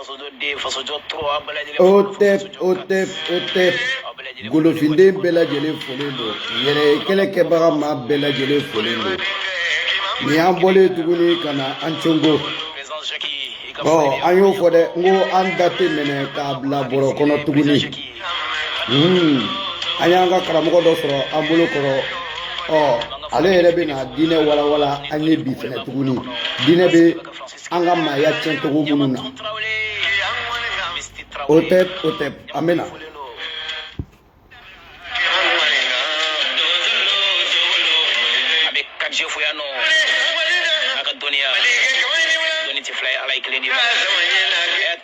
fasojɔ den fasojɔ tɔgɔ aw bɛɛ lajɛlen hotep hotep hotep golofinden bɛɛ lajɛlen folen don yɛrɛ kɛlɛ kɛbaga maa bɛɛ lajɛlen folen don nin y'an bɔlen ye tuguni ka na an congo ɔ an y'o fɔ dɛ n ko an da tɛ minɛ k'a bila bɔrɔ kɔnɔ tuguni an y'an ka karamɔgɔ dɔ sɔrɔ an bolo kɔrɔ ɔ ale yɛrɛ bɛ na diinɛ walawala an ye bi fɛnɛ tuguni diinɛ bɛ an ka maaya tiɲɛ cogo minnu na hotep hotep an bɛ na.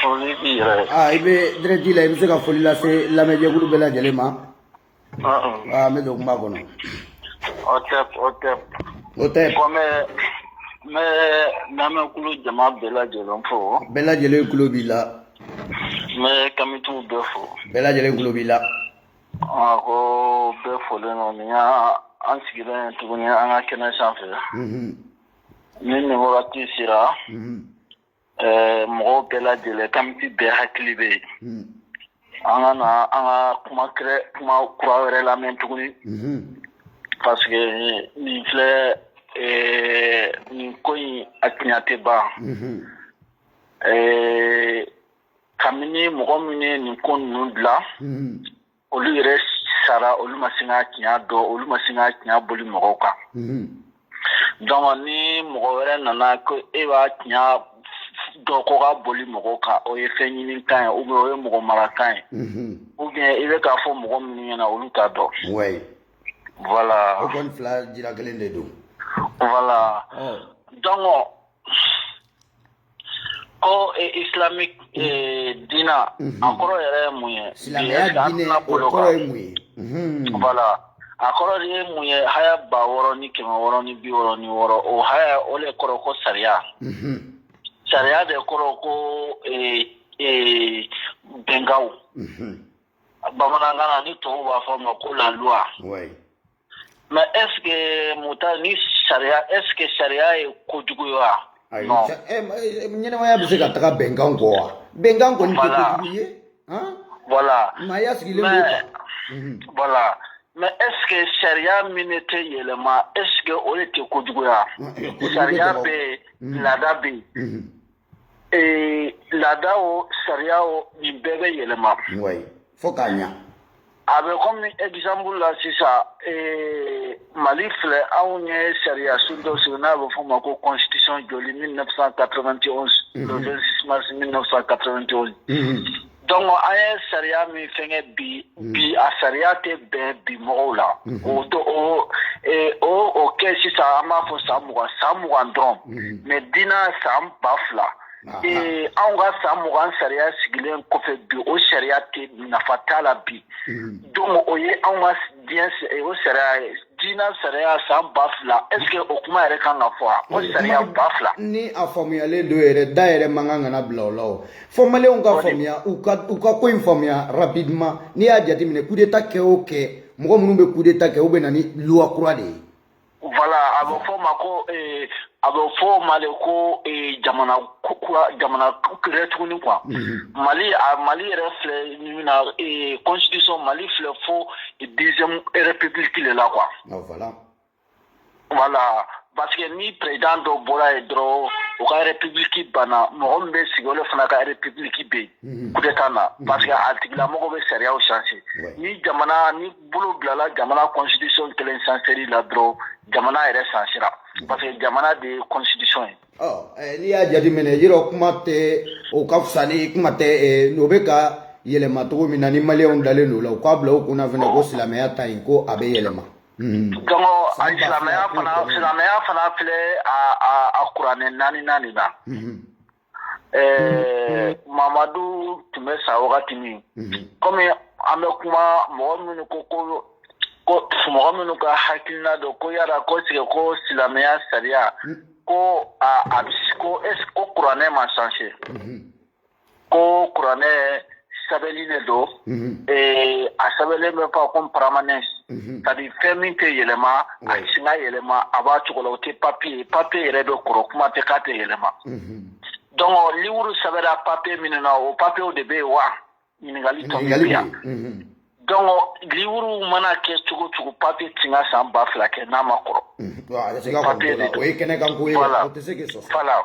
Foli b'i yɛrɛ ye. Aa i bɛ direct la, i bɛ se ka foli lase lamɛnjɛkulu bɛɛ lajɛlen ma. Aa n bɛ don kuma kɔnɔ. Hotep hotep. Hotep. Ko n bɛ n bɛ lamɛnkulu jama bɛɛ lajɛlen fo. Bɛɛ lajɛlen tulo b'i la. N bɛ kamitiw bɛɛ fo. Bɛɛ lajɛlen tulo b'i la. Aa ko bɛɛ folen don nin y'an sigilen ye tuguni an ka kɛnɛ sanfɛ. Unhun. Ni nin wagati sera. Unhun. Ɛɛ mɔgɔw bɛɛ lajɛlen kamiti bɛɛ hakili bɛ yen an ka na an ka kuma kuma kura wɛrɛ lamɛn tuguni parce que nin filɛ nin ko in a tiɲɛ tɛ ban ɛɛ kabini mɔgɔ minnu ye nin ko ninnu dilan olu yɛrɛ sara olu ma se ka tiɲɛ dɔn olu ma se ka tiɲɛ boli mɔgɔw kan donc ni mɔgɔ wɛrɛ nana ko e b'a tiɲɛ dɔn ko ka boli mɔgɔw kan o ye fɛn ɲini kan ye ou bien o ye mɔgɔ mara kan ye ou bien i bɛ k'a fɔ mɔgɔ minnu ɲɛ na olu t'a dɔn wayi voilà o kɔni fila jira kelen de don voilà donc Ko islamique diinɛ a kɔrɔ yɛrɛ ye mun ye voilà a kɔrɔ de ye mun ye haya ba wɔɔrɔ ni kɛmɛ wɔɔrɔ ni bi wɔɔrɔ ni wɔɔrɔ o haya o de kɔrɔ ko sariya sariya de kɔrɔ ko bɛnkanw bamanankan na ni tubabu b'a fɔ a ma ko la loi Mɛ ɛseke mu ni sariya e sariya ye kojugu ɲɛnɛmaya bɛ se ka taga bɛnkan kɔ wa bɛnkan kɔni mɛ eske sariya min ne tɛ yɛlɛma e o de tɛ kojugu sariya bɛ laada bɛ ee laada o sariya o nin bɛɛ bɛ yɛlɛma wayi fo k'a ɲa a bɛ kɔmi exemple la sisan ee mali filɛ anw ye sariya sun dɔ sigi n'a bɛ f'o ma ko constitution joli 1991 le 26 mars 1991 donc an ye sariya min fɛnkɛ bi bi a sariya tɛ bɛn bi mɔgɔw la o kɛ sisan an b'a fɔ san mugan san mugan dɔrɔn mais diinɛ san ba fila ee anw ka san mugan sariya sigilen kɔfɛ bi o sariya tɛ nafa t'a la bi donc o ye anw ka diɲɛ o sariya ye diinɛ sariya san ba fila est-ce que o kuma yɛrɛ kan ka fɔ a ko sariya ba fila ni a faamuyalen don yɛrɛ da yɛrɛ man kan kana bila o la o fo maliyɛnw ka faamuya u ka u ka ko in faamuya rapidement n'i y'a jateminɛ coup d'état kɛ o kɛ mɔgɔ minnu bɛ coup d'état kɛ u bɛ na ni loi kura de ye voilà a bɛ fɔ o ma ko a bɛ fɔ o ma de ko eh, jamana ku- kura jamana kura tuguni quoi mali a mali yɛrɛ filɛ ni min na eh, constitution mali filɛ fo deuxième république de la quoi Ah, voilà. voilà parce que ni président dɔ bɔra yen dɔrɔn o ka république banna mɔgɔ min bɛ sigi o de fana ka république bɛ yen coup d'état na parce que a tigilamɔgɔ bɛ sariyaw changer Ouais. ni jamana ni bolo bilala jamana constitution kelen changer la dɔrɔn jamana yɛrɛ changer la parce que jamana de ye constitution ye eh, n'i y'a jateminɛ yɔrɔ kuma tɛ o ka fisa ni kuma tɛ eh, n'o bɛ ka yɛlɛma cogo min na ni maliyɛnw dalen don o la u k'a bila u kunna fana ko silamɛya ta in ko a bɛ yɛlɛma mhm. donc silamɛya fana silamɛya fana filɛ a kuranɛ naani naani na mhm. Ɛɛ mamadu tun bɛ sa wagati min kɔmi an bɛ kuma mɔgɔ minnu ko ko ko mɔgɔ minnu ka hakilina dɔ ko yala ko tigɛ ko silamɛya sariya ko ko e ko kuranɛ ma changer ko kuranɛ sɛbɛnni de don ee a sɛbɛnlen bɛ fɔ ko permanent c'est-à-dire fɛn min tɛ yɛlɛma a tɛ se ka yɛlɛma a b'a cogo la o tɛ papiye papiye yɛrɛ bɛ kɔrɔ kuma tɛ k'a tɛ yɛlɛma donc liwuru sɛbɛnna papiye minnu na o papiyew de bɛ yen wa ɲininkali tɔ bɛ yan donc liwuru mana kɛ cogo cogo papiye tɛ ka san ba fila kɛ n'a ma kɔrɔ papiye de don o ye kɛnɛkanko ye o tɛ se k'i sɔsɔ voilà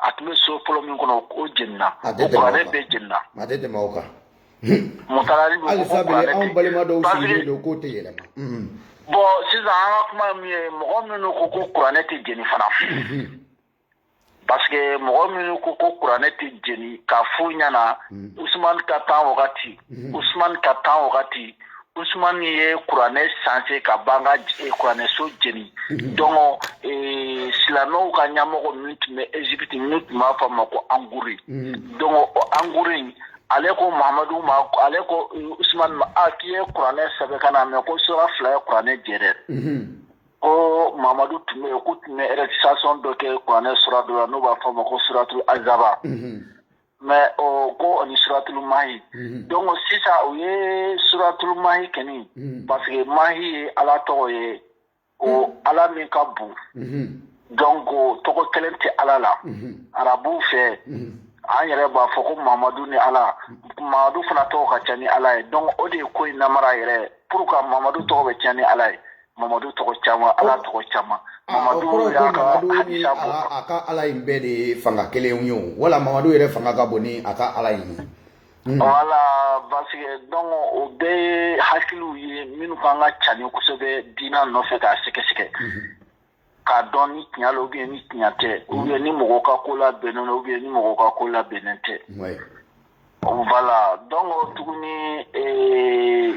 a tun bɛ so fɔlɔ min kɔnɔ o jenina kuranɛ bɛɛ jenina bon sisan an ka kuma min ye mɔgɔ minnu ko ko kuranɛ tɛ jeni fana parce mɔgɔ minnu ko ko kuranɛ tɛ jeni k'a f'u ɲɛna usumani ka temps wagati usumani ka temps wagati Ousmane ye kuranɛ changer ka ban ka kuranɛso jeni donc silamɛw ka ɲamɔgɔ min tun bɛ Egypte min tun b'a fɔ a ma ko anguri donc o anguri ale ko mamadu ma ale ko Ousmane ma k'i ye kuranɛ sɛbɛn ka na mais ko sura fila ye kuranɛ jɛ dɛ ko mamadu tun bɛ yen k'u tun bɛ récitation dɔ kɛ kuranɛ sura dɔ la n'u b'a fɔ a ma ko suratu azaba mais o ko o ni suratulu mahi mhm. donc sisan u ye suratulu mahi kɛni mhm. parce que mahi ye ala tɔgɔ ye o mhm. ala min ka bon donc tɔgɔ kelen tɛ ala la arabuw fɛ an yɛrɛ b'a fɔ ko mamadu ni ala mamadu fana tɔgɔ ka ca ni ala ye donc o de ye ko in namara yɛrɛ pour que mamadu tɔgɔ bɛ ca ni ala ye mamadu tɔgɔ caman ala tɔgɔ caman mamadu n'a ka ala in bɛɛ de ye fanga kelen ye o wala mamadu yɛrɛ fanga ka bon ni a ka ala in ye hmm. voilà parce que donc o bɛɛ ye hakiliw ye minnu kan ka cani kosɛbɛ diina nɔfɛ k'a sɛgɛsɛgɛ hmm. k'a dɔn ni tiɲa la ou bien ni tiɲa tɛ hmm. ou bien ni mɔgɔ ka ko labɛnnen don ou bien ni mɔgɔ ka ko labɛnnen tɛ voilà donc tuguni eh,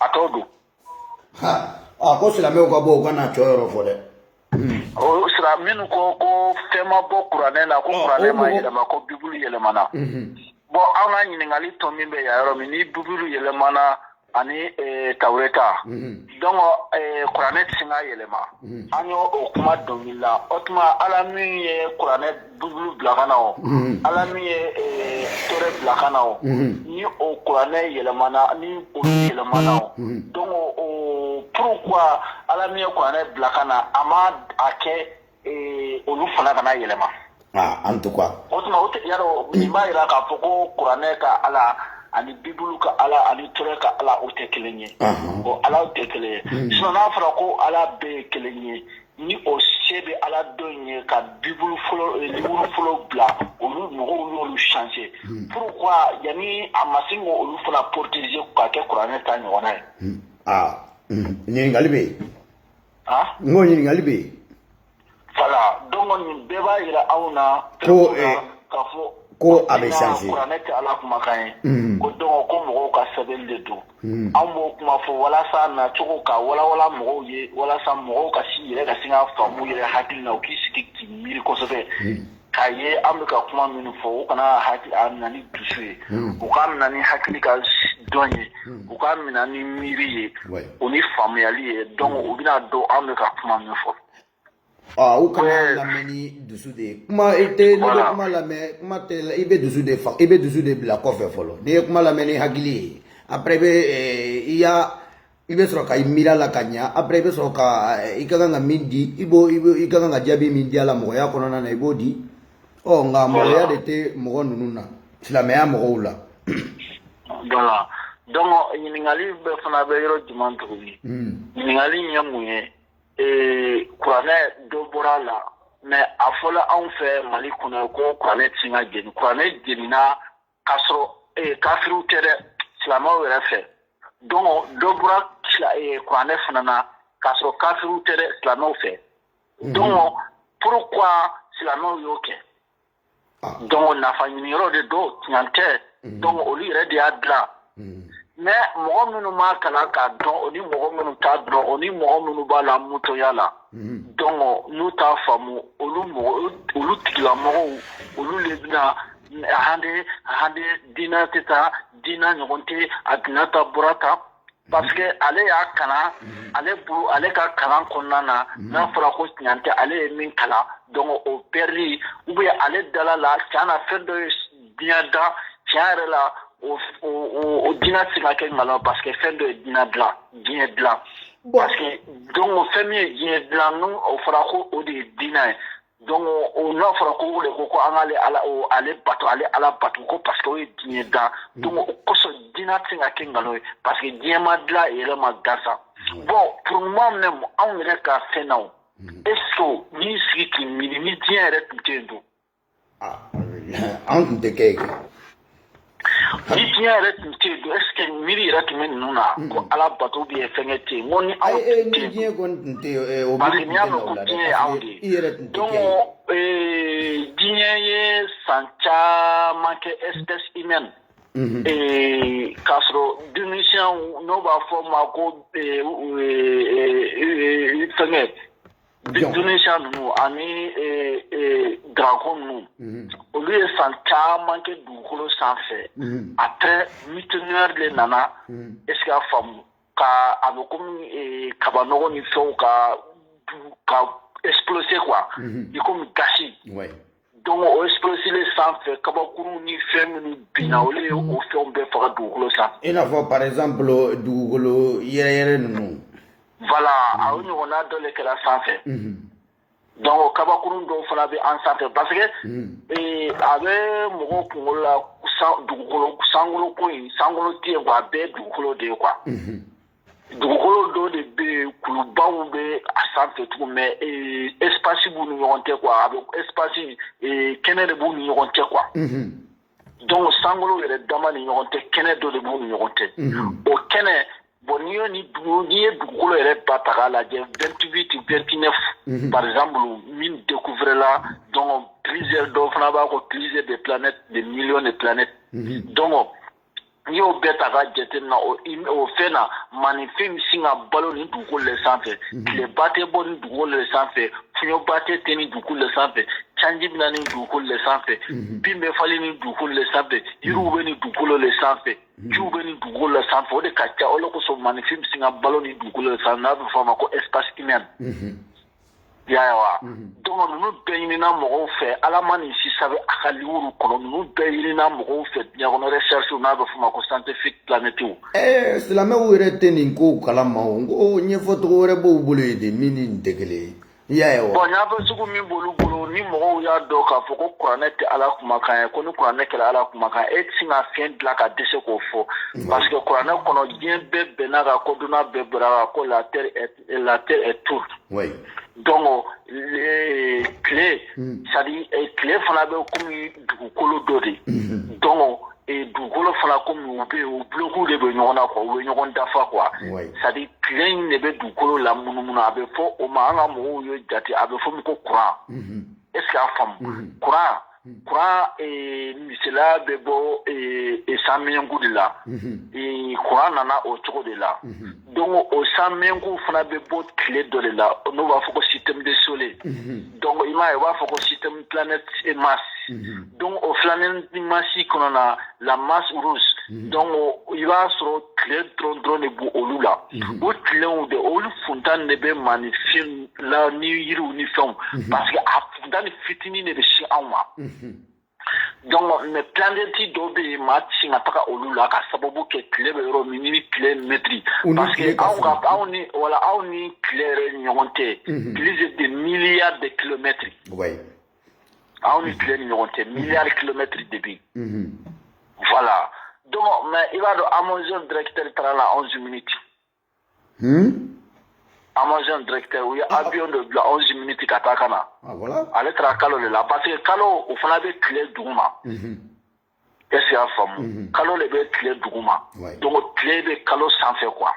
a t'o don ko silamɛw ka bɔ u ka na cɔyɔrɔ fɔ dɛ o sira minnu ko fɛn ma bɔ kuranɛ la ko kuranɛ ma yɛlɛma ko bibulu yɛlɛmana bon an ka ɲininkali tɔ min bɛ yan yɔrɔ min ni bibulu yɛlɛmana ani tawureta donc kuranɛ tɛ sin ka yɛlɛma an y'o o kuma dɔnkili la o tuma ala min ye kuranɛ bibulu bila ka na o ala min ye eh, tɔɔrɛ bila ka na o ni o kuranɛ yɛlɛmana ni olu yɛlɛmana o donc pourquoi ala min ye kuranɛ bila ka na a ma a kɛ eh, olu fana kana yɛlɛma ah, en tout cas o tuma o tigi yɔrɔ nin b'a yira k'a fɔ ko kuranɛ ka ala ani bibulu ka ala ani tɔɔrɛ ka ala o tɛ kelen ye o alaw tɛ kelen ye sinon n'a fɔra ko ala bɛɛ ye kelen ye ni o se bɛ ala dɔ in ye ka bibulu fɔlɔ bila olu mɔgɔw y'olu changer pourquoi yanni a ma se ka olu fana protéger k'a kɛ kuranɛ ta ɲɔgɔnna ye aa ɲininkali bɛ yen n ko ɲininkali bɛ yen voilà donc nin bɛɛ b'a yira anw na k'a fɔ ko a bɛ changer kuranɛ tɛ ala kumakan ye ko donc ko mɔgɔw ka sɛbɛn de don Hmm. An b'o kuma fɔ walasa nacogo ka walawalan mɔgɔw ye walasa mɔgɔw ka si yɛrɛ ka sin ka faamu yɛrɛ hakili na u k'i sigi k'i miiri kosɛbɛ hmm. k'a ye an bɛ ka kuma minnu fɔ u kana hakili a minɛ ni dusu ye hmm. u k'a minɛ ni hakili ka dɔn ye u k'a minɛ ni miiri ye o ni faamuyali ye donc u bɛna dɔn an bɛ ka kuma min fɔ Aa u kana Ɛɛ. lamɛn ni dusu de ye kuma i tɛ n'i bɛ Voilà. kuma lamɛn kuma tɛ la- i bɛ dusu de fa i bɛ dusu de bila kɔfɛ fɔlɔ n'i ye kuma lamɛn ni hakili ye après i bɛ ɛɛ, i y'a i bɛ sɔrɔ ka i miiri a la ka ɲa après i bɛ sɔrɔ ka ɛɛ, i ka kan ka min di i b'o i bɛ i ka kan ka jaabi min di a la mɔgɔya kɔnɔna na i b'o di ɔ nka mɔgɔya de tɛ mɔgɔ ninnu na silamɛya mɔgɔw la Voilà. Donc ɲininkali bɛɛ fana bɛ yɔrɔ jumɛn tuguni? Hmm. Ɲininkali in ye mun ye? Ee kuranɛ dɔ bɔra a la mais a fɔra anw fɛ mali kɔnɔ ko kuranɛ tɛ se ka jeni kuranɛ jenina k'a sɔrɔ ee kafiriw tɛ dɛ silamɛw yɛrɛ fɛ don dɔ bɔra kuranɛ fana na k'a sɔrɔ kafiriw tɛ dɛ silamɛw fɛ don pourquoi silamɛw y'o kɛ ah. donc nafa ɲiniyɔrɔ de don tiɲan tɛ mm. donc olu yɛrɛ de y'a dilan mm. mais mɔgɔ minnu m'a kalan k'a dɔn o ni mɔgɔ minnu t'a dɔn o ni mɔgɔ minnu b'a la mutoya la mm. donc n'u t'a faamu olu mɔgɔ olu tigilamɔgɔw olu le bɛna hande hande diinɛ tɛ taa diinɛ ɲɔgɔn tɛ a dina ta bɔra ta Parce que ale y'a kalan ale ale ka kalan kɔnɔna na n'a fɔra ko tiɲan tɛ ale ye min kalan donc o bɛɛ ou bien ale dala la can na fɛn dɔ ye diɲɛ dan can yɛrɛ la o diinɛ tɛ se ka kɛ nkalon parce que fɛn dɔ ye diɲɛ dilan diɲɛ dilan parce que donc fɛn min ye diɲɛ dilan n'o fɔra ko o de ye diinɛ ye donc o n'a fɔra ko o de ko ko an k'ale ala o ale bato ale ala bato ko parce que o ye diɲɛ dan donc o kosɔn diinɛ tɛ se ka kɛ nkalon ye parce que diɲɛ ma dilan yɛrɛ ma gansan bon pour le moment même anw yɛrɛ ka fɛn na o est ce que n'i sigi k'i miiri ni diɲɛ yɛrɛ tun tɛ yen dun an tun tɛ kɛ yen ni diɲɛ yɛrɛ tun tɛ yen est ce que miiri yɛrɛ tun bɛ ninnu na ko ala bato bɛ yen fɛnkɛ tɛ yen ko ni anw tɛ yen ni diɲɛ kɔni tun tɛ yen o parce que n'i y'a mɛn ko diɲɛ ye anw de ye i yɛrɛ tun tɛ kɛ yen diɲɛ ye san caman kɛ espèce humaine k'a sɔrɔ denmisɛnw n'o b'a fɔ o ma ko fɛnkɛ Dinosaure ninnu ani dragon ninnu olu ye san caman kɛ dugukolo sanfɛ après météore de nana est ce que a faamu ka a bɛ kɔmi kabanɔgɔ ni fɛnw ka ka exploser quoi i kɔmi gazi Donc o exploser sanfɛ kabakuru ni fɛn minnu binna olu ye o fɛn bɛɛ faga dugukolo sanfɛ i n'a fɔ par exemple dugukolo yɛrɛyɛrɛ ninnu voilà a o ɲɔgɔnna dɔ le kɛra sanfɛ donc kabakuru dɔw fana bɛ an sanfɛ parce que a bɛ mɔgɔ kunkolo la san sankolo ko in sankolo tɛ a bɛɛ dugukolo de ye quoi dugukolo dɔ de bɛ yen kulubaw bɛ a sanfɛ cogo mɛ espasi b'u ni ɲɔgɔn cɛ kuwa a bɛ espasi kɛnɛ de b'u ni ɲɔgɔn cɛ kuwa dɔnku sankolo yɛrɛ dama ni ɲɔgɔn cɛ kɛnɛ dɔ de b'u ni ɲɔgɔn cɛ o kɛnɛ bɔn n'i ye ni dugu n'i ye dugukolo yɛrɛ ba taga lajɛ vtibi tɛ vtinɛ bakarijanzsan min deko wɛrɛla dɔn pze dɔw fana b'a ko pze de pɛ de miy de pɛ dɔn n'i y'o bɛɛ ta k'a jatemina o fɛn na maninfin bɛ sin ka balo nin dugukolo le sanfɛ mhm. tileba tɛ bɔ nin dugukolo le sanfɛ fiɲɛba tɛ tɛ nin dugukolo le sanfɛ sanji bɛ na nin dugukolo le sanfɛ mhm. bin bɛ falen nin dugukolo le sanfɛ mhm. yiriw bɛ nin dugukolo le sanfɛ jiw bɛ nin dugukolo le sanfɛ o de ka ca o de kosɔn maninfin bɛ sin ka balo nin dugukolo le sanfɛ n'a bɛ fɔ a ma ko espace humain Y'a wa donc ninnu bɛɛ ɲinina mɔgɔw fɛ ala ma nin si sɛbɛn a ka liwuru kɔnɔ ninnu bɛɛ ɲinina mɔgɔw fɛ diɲɛ kɔnɔ recherchew n'a bɛ fɔ ma ko scientifique planètew ɛɛ silamɛw yɛrɛ tɛ nin kow kalama ko ɲɛfɔcogo wɛrɛ b'u bolo yen de min ni nin tɛ kelen ye y'a wa bon a bɛ sugu min b'olu bolo ni mɔgɔw y'a dɔn k'a fɔ ko kuranɛ tɛ ala kumakan ye ko ni kuranɛ kɛra ala kumakan ye e tɛ sin ka fɛn dilan ka dɛsɛ k'o fɔ parce que kuranɛ kɔnɔ diɲɛ bɛɛ bɛnna a kan kodɔnna bɛɛ bɛnna a kan ko la la terre est tour oui. donc le tile mm. c'est-à-dire eh, tile fana bɛ komi dugukolo dɔ de mm-hmm. donc eh, dugukolo fana komi u bɛ u buloku de bɛ ɲɔgɔn na quoi u bɛ ɲɔgɔn dafa quoi c'est-à-dire tile in de bɛ dugukolo la munumunu a bɛ fɔ o ma an ka mɔgɔw ye jate a bɛ fɔ min ko kuran mm-hmm. est ce que a faamu kuran mm-hmm. Hmm. Kuran eh, misaliya bɛ bɔ eh, eh, san miɲɛnku de la hmm. kuran nana o cogo de la hmm. donc o san miɲɛnku fana bɛ bɔ tile dɔ de la n'o b'a fɔ ko système de soleil donc i m'a ye u b'a fɔ ko système planète et Mars donc o planète Mars kɔnɔ na la Mars rouge donc i b'a sɔrɔ tile dɔrɔn dɔrɔn de b'o olu la o tilenw de olu funtan de bɛ maninfin la ni yiriw ni fɛnw parce que a funtan fitinin de bɛ sin anw ma donc mais planète dɔw bɛ yen maa ti sin ka taga olu la ka sababu kɛ tile bɛ yɔrɔ min ni tile mɛtiri parce que anw ka anw ni wala anw ni tile yɛrɛ ɲɔgɔn tɛ plus de milliards de kilomètres anw ni tile ni ɲɔgɔn tɛ milliards kilomètres de bi voilà donc mais i b'a dɔn amazon directeur taara la 11 minutes Hmm? Amazon directeur u ye ah. avion dɔ bila 11 minutes ka taa ka na ah, ale taara kalo de la parce que kalo o fana bɛ tile duguma mhm. est ce y'a faamu mhm. kalo de bɛ tile duguma donc tile bɛ kalo sanfɛ quoi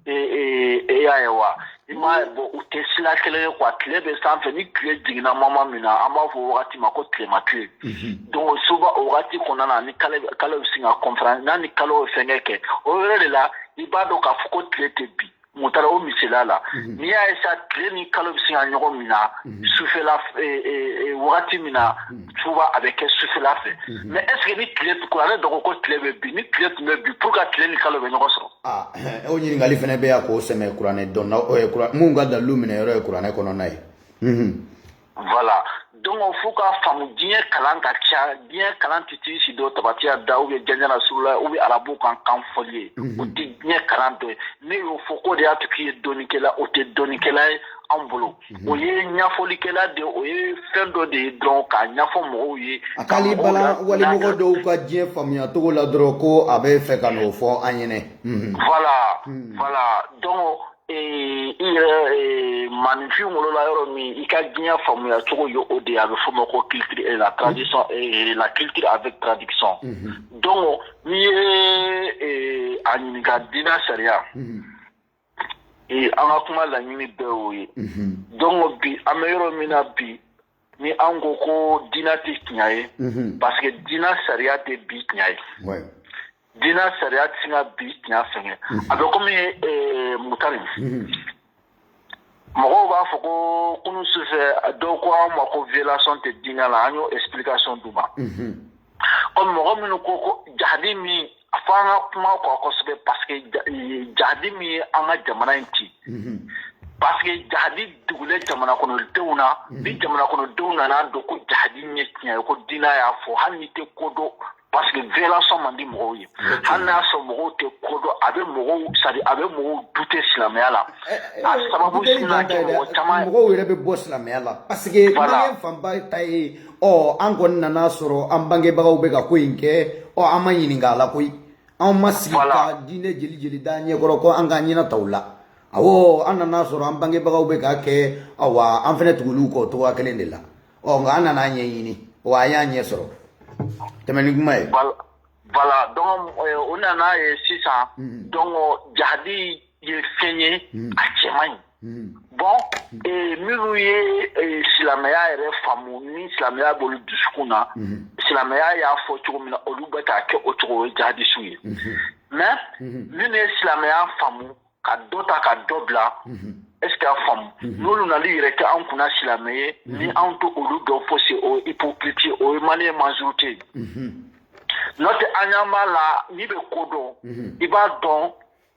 e, e, e y'a ye wa i m'a ye bon u tɛ sira kelen ye quoi tile bɛ sanfɛ ni tile jiginna moment min na an b'a fɔ o wagati ma ko tilema tile mhm. donc souvent o wagati kɔnɔna na ni kalo bɛ sin ka conférence n'a ni kalo ye fɛnkɛ kɛ o yɔrɔ de la i b'a dɔn k'a fɔ ko tile tɛ bin mutara o misali la mhm. n'i y'a ye sa tile ni kalo bɛ se ka ɲɔgɔn minɛ mhm. sufɛla e, e, e, wagati min na mhm. souvent a bɛ kɛ sufɛla fɛ mais est-ce que ni tile kuranɛ dɔn ko tile bɛ bin ni tile tun bɛ bin pourquoi tile ni kalo bɛ ɲɔgɔn sɔrɔ. Ah, o ɲininkali fana bɛ yan k'o sɛmɛ kuranɛ dɔnna minnu ka dalilu minɛ yɔrɔ ye kuranɛ kɔnɔna ye. voilà donc fo k'a faamu diɲɛ kalan ka ca diɲɛ kalan tɛ t'i si dɔ tabatiya da u ye janjana su la u bɛ arabu kan kan fɔli ye o tɛ diɲɛ kalan dɔ ye ne y'o fɔ ko de y'a to k'i ye dɔnikɛla o tɛ dɔnikɛla ye an bolo o ye ɲɛfɔlikɛla de o ye fɛn dɔ de ye dɔn k'a ɲɛfɔ mɔgɔw ye a k'ale bala wali mɔgɔ dɔw ka diɲɛ faamuya cogo la dɔrɔn ko a bɛ fɛ ka n'o fɔ an ɲɛna voilà voilà donc i yɛrɛ maninfin wolola yɔrɔ min i ka diɲɛ faamuya cogo ye o de a bɛ fɔ ma ko culture et la tradition la culture avec tradition donc n'i ye a ɲininka diinɛ sariya an ka kuma laɲini bɛɛ o ye donc bi an bɛ yɔrɔ min na bi ni an ko ko diinɛ tɛ tiɲɛ ye parce que diinɛ sariya tɛ bi tiɲɛ ye diinɛ sariya tɛ se ka bi tiɲɛ fɛnkɛ a bɛ komi mutari mɔgɔw b'a fɔ ko kunun sufɛ dɔw ko anw ma ko violation tɛ diinɛ la an y'o explication d'u ma. ɔ mɔgɔ minnu ko ko jahadi min a fɔ an ka kuma kɔ kosɛbɛ parce que jahadi min ye an ka jamana in ci parce que jahadi dogolen jamana kɔnɔdenw na ni jamana kɔnɔdenw nan'a dɔn ko jahadi ye tiɲɛ ye ko diinɛ y'a fɔ hali n'u tɛ ko dɔn parce que violation man di mɔgɔw ye hali n'a sɔrɔ mɔgɔw tɛ ko dɔn a bɛ mɔgɔw sadi a bɛ mɔgɔw douter silamɛya la a sababu sina kɛ mɔgɔ caman mɔgɔw yɛrɛ bɛ bɔ silamɛya la parce que maliyɛn fanba ta ye ɔ an kɔni nana sɔrɔ an bangebagaw bɛ ka ko in kɛ ɔ an ma ɲininka a la koyi anw ma sigi ka diinɛ jeli jeli d'an ɲɛkɔrɔ ko an k'an ɲɛna ta u la awɔ an nana sɔrɔ an bangebagaw bɛ k'a kɛ awa an fana tugul'u kɔ cogoya kelen de la ɔ nka an nan'a ɲɛɲini wa an y'a ɲɛ sɔrɔ tɛmɛ ni kuma ye. voilà donc an nan'a ye sisan donc jahadi ye fɛn ye a cɛ man ɲi bon minnu ye silamɛya yɛrɛ faamu ni silamɛya b'olu dusukun na silamɛya y'a fɔ cogo min na olu bɛ k'a kɛ o cogo ye jahadisiw ye mais minnu ye silamɛya faamu ka dɔ ta ka dɔ bila est-ce qu'a faamu n'olu nal'u yɛrɛ kɛ an kunna silamɛ ye ni anw t'olu dɔn fosi o hypocrite o ye maliyɛn majorité ye n'o tɛ an ɲɛ b'a la n'i bɛ ko dɔn i b'a dɔn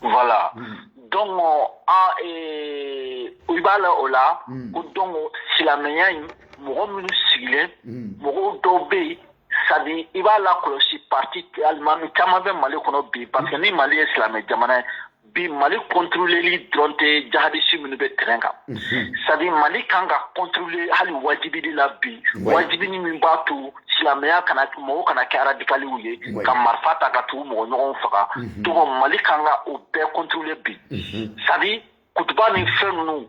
Voilà donc i b'a la o la ko donc silamɛya in mɔgɔ minnu sigilen mɔgɔw dɔw bɛ yen c'est-à-dire i b'a lakɔlɔsi parti alimami caman bɛ mali kɔnɔ bi parce que ni mali ye silamɛ jamana ye bi mali contrôleli dɔrɔn tɛ jihadisi minnu bɛ terrain kan c'est-à-dire mali kan ka contrôler hali wajibili la bi wajibili min b'a to silamɛya kana mɔgɔw kana kɛ radikaliw ye ka marifa ta ka to k'u mɔgɔ ɲɔgɔnw faga donc mhm. mali kan ka o bɛɛ contrôler bi mhm. c'est-à-dire kutuba ni fɛn ninnu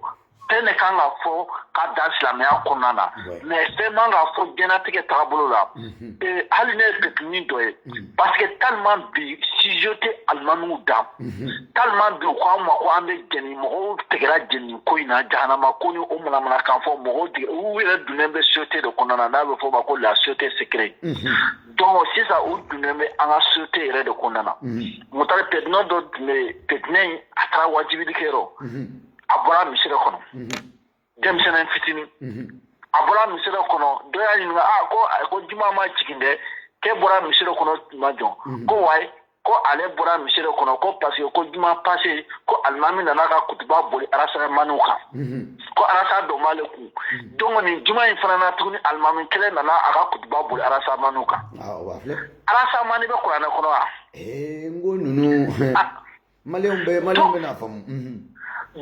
fɛn de kan ka fɔ ka dan silamɛya kɔnɔna na mais fɛn man ka fɔ diɲɛnatigɛ taabolo la mhm. eh, hali ne ye petinin dɔ ye Parce que tellement bi sujet tɛ alimamiw da, unhun, tellement bi u ko an ma ko an bɛ jeni, mɔgɔw tigɛra jeni ko in na jahanama ko ni o manamanakan fɔ, mɔgɔw tigɛ, u yɛrɛ donnen bɛ société de kɔnɔna na n'a bɛ f'o ma ko la société secrète unhun, donc sisan u donnen bɛ an ka société yɛrɛ de kɔnɔna na, unhun, Mutari petinin dɔ tun bɛ yen, petinin in a taara wajibili kɛ yɔrɔ, unhun, a bɔra misiri kɔnɔ, unhun. denmisɛnnin fitinin a bɔra misiri kɔnɔ dɔ y'a ɲininka a ko ko juma ma jigin dɛ k'e bɔra misiri kɔnɔ tuma jɔn ko wayi ko ale bɔra misiri kɔnɔ ko parce que ko juma passé ko alimami nana ka kutuba boli arasamaniw kan ko arasa dɔ b'ale kun donc nin juma in fana na tuguni alimami kelen nana a ka kutuba boli arasamaniw kan arasamani bɛ kuranɛ kɔnɔ wa eh, n ko ninnu maliyɛnw bɛ maliyɛnw bɛ n'a faamu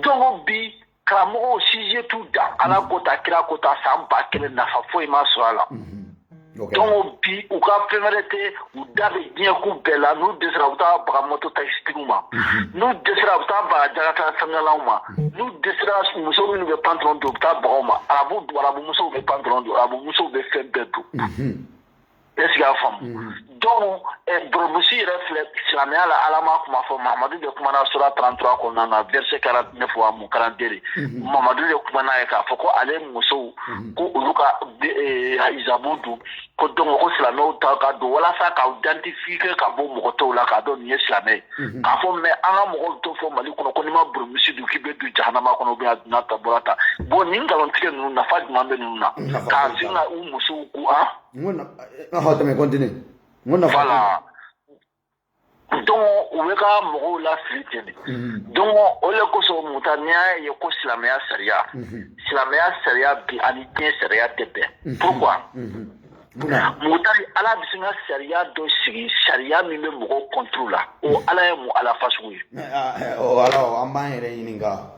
donc bi karamɔgɔw sujet t'u da ala mm. ko tan kira ko tan san ba kelen nafa foyi ma sɔrɔ a la mm-hmm. donc bi u ka fɛn wɛrɛ tɛ u da bɛ diɲɛko bɛɛ la n'u dɛsɛra u bɛ taa baga moto takisitigiw ma mm-hmm. n'u dɛsɛra u bɛ taa baga jakarta fɛngɛlanw ma mm-hmm. n'u dɛsɛra muso minnu bɛ pantalon don u bɛ taa baga u ma arabu arabu musow bɛ pantalon don arabu musow bɛ fɛn bɛɛ don est-ce que i y'a faamu mhm. donc eh, burumusi yɛrɛ filɛ silamɛya la ala ma kuma fɔ mahamadu de kumana sura 33 kɔnɔna na verset 49 wa mu 42 mhm. mahamadu de kumana ye k'a fɔ ko ale musow mhm. ko olu ka eh, hijabu don ko donc ko silamɛw ta ka don walasa k'aw identifier ka bɔ mɔgɔ tɔw la k'a dɔn nin ye silamɛ ye k'a fɔ mais an ka mɔgɔw t'o fɔ mali kɔnɔ ko n'i ma burumusi don k'i bɛ don jahanama kɔnɔ ou bien a donna tan bɔra tan bon nin nkalontigɛ ninnu nafa jumɛn bɛ ninnu na k'a sin ka u musow ko an n ko na hɔ tɛmɛ continue n ko nafa voilà donc u bɛ ka mɔgɔw lafili ten de mhm. donc o le kosɔn mutari n'i y'a ye ko silamɛya sariya mhm. silamɛya sariya bi ani diɲɛ sariya tɛ bɛn mhm. pourquoi mutari ala bɛ se ka sariya dɔ sigi sariya min bɛ mɔgɔw contre la o ala ye mun ala fasugu ye ala an b'an yɛrɛ ɲininka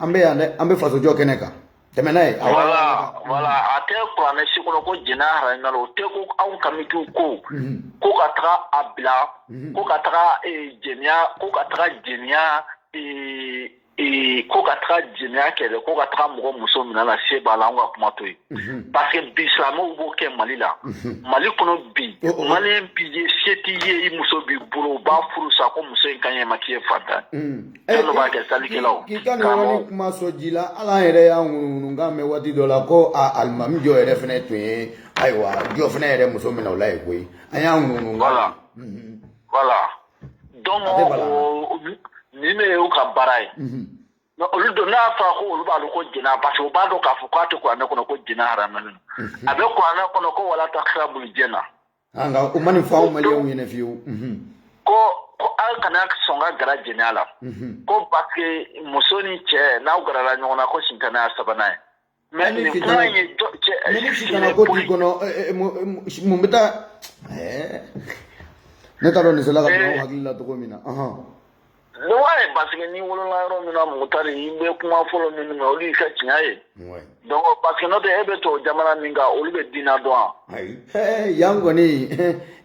an bɛ yan dɛ an bɛ fasojɔ kɛnɛ kan tɛmɛ n'a ye voilà voilà a tɛ kuranɛ si kɔnɔ ko jɛnɛya haramuna o tɛ ko anw kamitiw ko ko ka taga a bila ko ka taga jɛniya ko ka taga jɛniya ko ka taga jɛniya kɛ dɛ ko ka taga mɔgɔ muso minɛ n'a se b'a la an ka kuma to yen parce que bi silamɛw b'o kɛ mali la mali kɔnɔ bi maliyɛn bi ye se t'i ye i muso b'i bolo u b'a furu sa ko muso in ka ɲi i ma k'i ye faantan Minnu b'a kɛ salikɛlaw. K'i ka nin yɔrɔnin kuma sɔn ji la, hali an yɛrɛ y'a ŋunuŋunukan mɛn waati dɔ la ko a alimami jɔ yɛrɛ fana tun ye ayiwa jɔ fana yɛrɛ muso minɛ o la yen koyi an y'a ŋunuŋunu. Voilà voilà donc o nin de y'u ka baara ye. mais olu don n'a fɔra ko olu b'a dɔn ko jɛnɛya parce que u b'a dɔn k'a fɔ k'a tɛ kuranɛ kɔnɔ ko jɛnɛya haramuyalen don a bɛ kuranɛ kɔnɔ ko wala takira bulu jɛna Ah, nka u ma nin fɔ anw maliyɛnw ɲɛna fiyewu mhm. ko ko aw kana sɔn ka gara jɛnɛya la mhm. ko parce muso ni cɛ n'aw garala ɲɔgɔn na ko sitana y'aw sabanan ye mais nin kuma in ye cɛ ni sitana ko t'i kɔnɔ eh, eh, mun bɛ taa eh. ne t'a dɔn nin sela ka bila aw hakili la cogo min na Donc ouais parce que n'i wolola yɔrɔ min na Mugutari i bɛ kuma fɔlɔ minnu mɛn olu y'i ka tiɲɛ ye donc parce que n'o tɛ e bɛ to jamana min kan olu bɛ diina dɔn wa yan kɔni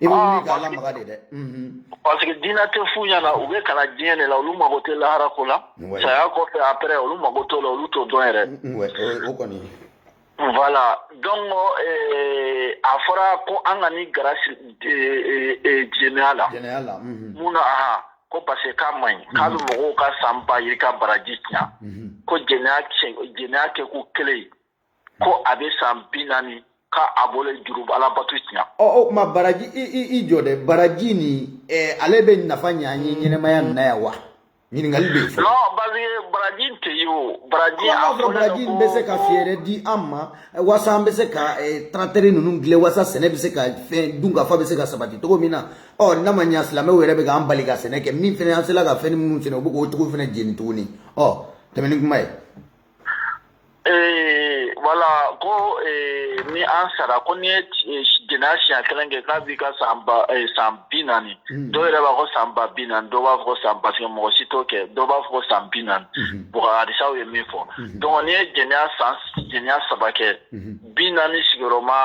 i dɛ parce que diinɛ tɛ f'u ɲɛna u bɛ kalan diɲɛ de la olu mago tɛ lahara ko la saya kɔfɛ après olu mago t'o la olu t'o dɔn yɛrɛ Voilà donc a fɔra ko an kana gara jɛnɛya la mun na aha ko parce que k'a man ɲi k'a bɛ mɔgɔw ka san ba yirika baraji tiɲɛ ko jɛnɛya kɛ ko kelen ko a bɛ san bi naani k'a bolo juru ala bato tiɲɛ o tuma baraji i jɔ dɛ baraji nin ale bɛ nafa ɲ'an ye ɲɛnɛmaya na yan wa ɲininkali bɛ fɔ. non parce que baraji tɛ yen o baraji. an b'a fɔ baraji bɛ se ka fɛɛrɛ di an ma waasa an bɛ se ka taratɛri ninnu dilan waasa sɛnɛ bɛ se ka fɛn dunkafa bɛ se ka sabati cogo min na ɔ n'a ma ɲa silamɛw yɛrɛ bɛ k'an bali ka sɛnɛ kɛ min fana an sera ka fɛn minnu sɛnɛ u bɛ k'o cogo fana jeni tuguni ɔ tɛmɛ ni kuma ye. Ee voilà ko ni an sara ko n'i ye jɛnɛya siɲɛ kelen kɛ k'a b'i ka san san bi naani dɔw yɛrɛ b'a ko san ba bi naani dɔw b'a fɔ san parce que mɔgɔ si t'o kɛ dɔw b'a fɔ san bi naani u ka hadisaw ye min fɔ donc n'i ye jɛnɛya siɲɛ saba kɛ bi naani sigiyɔrɔma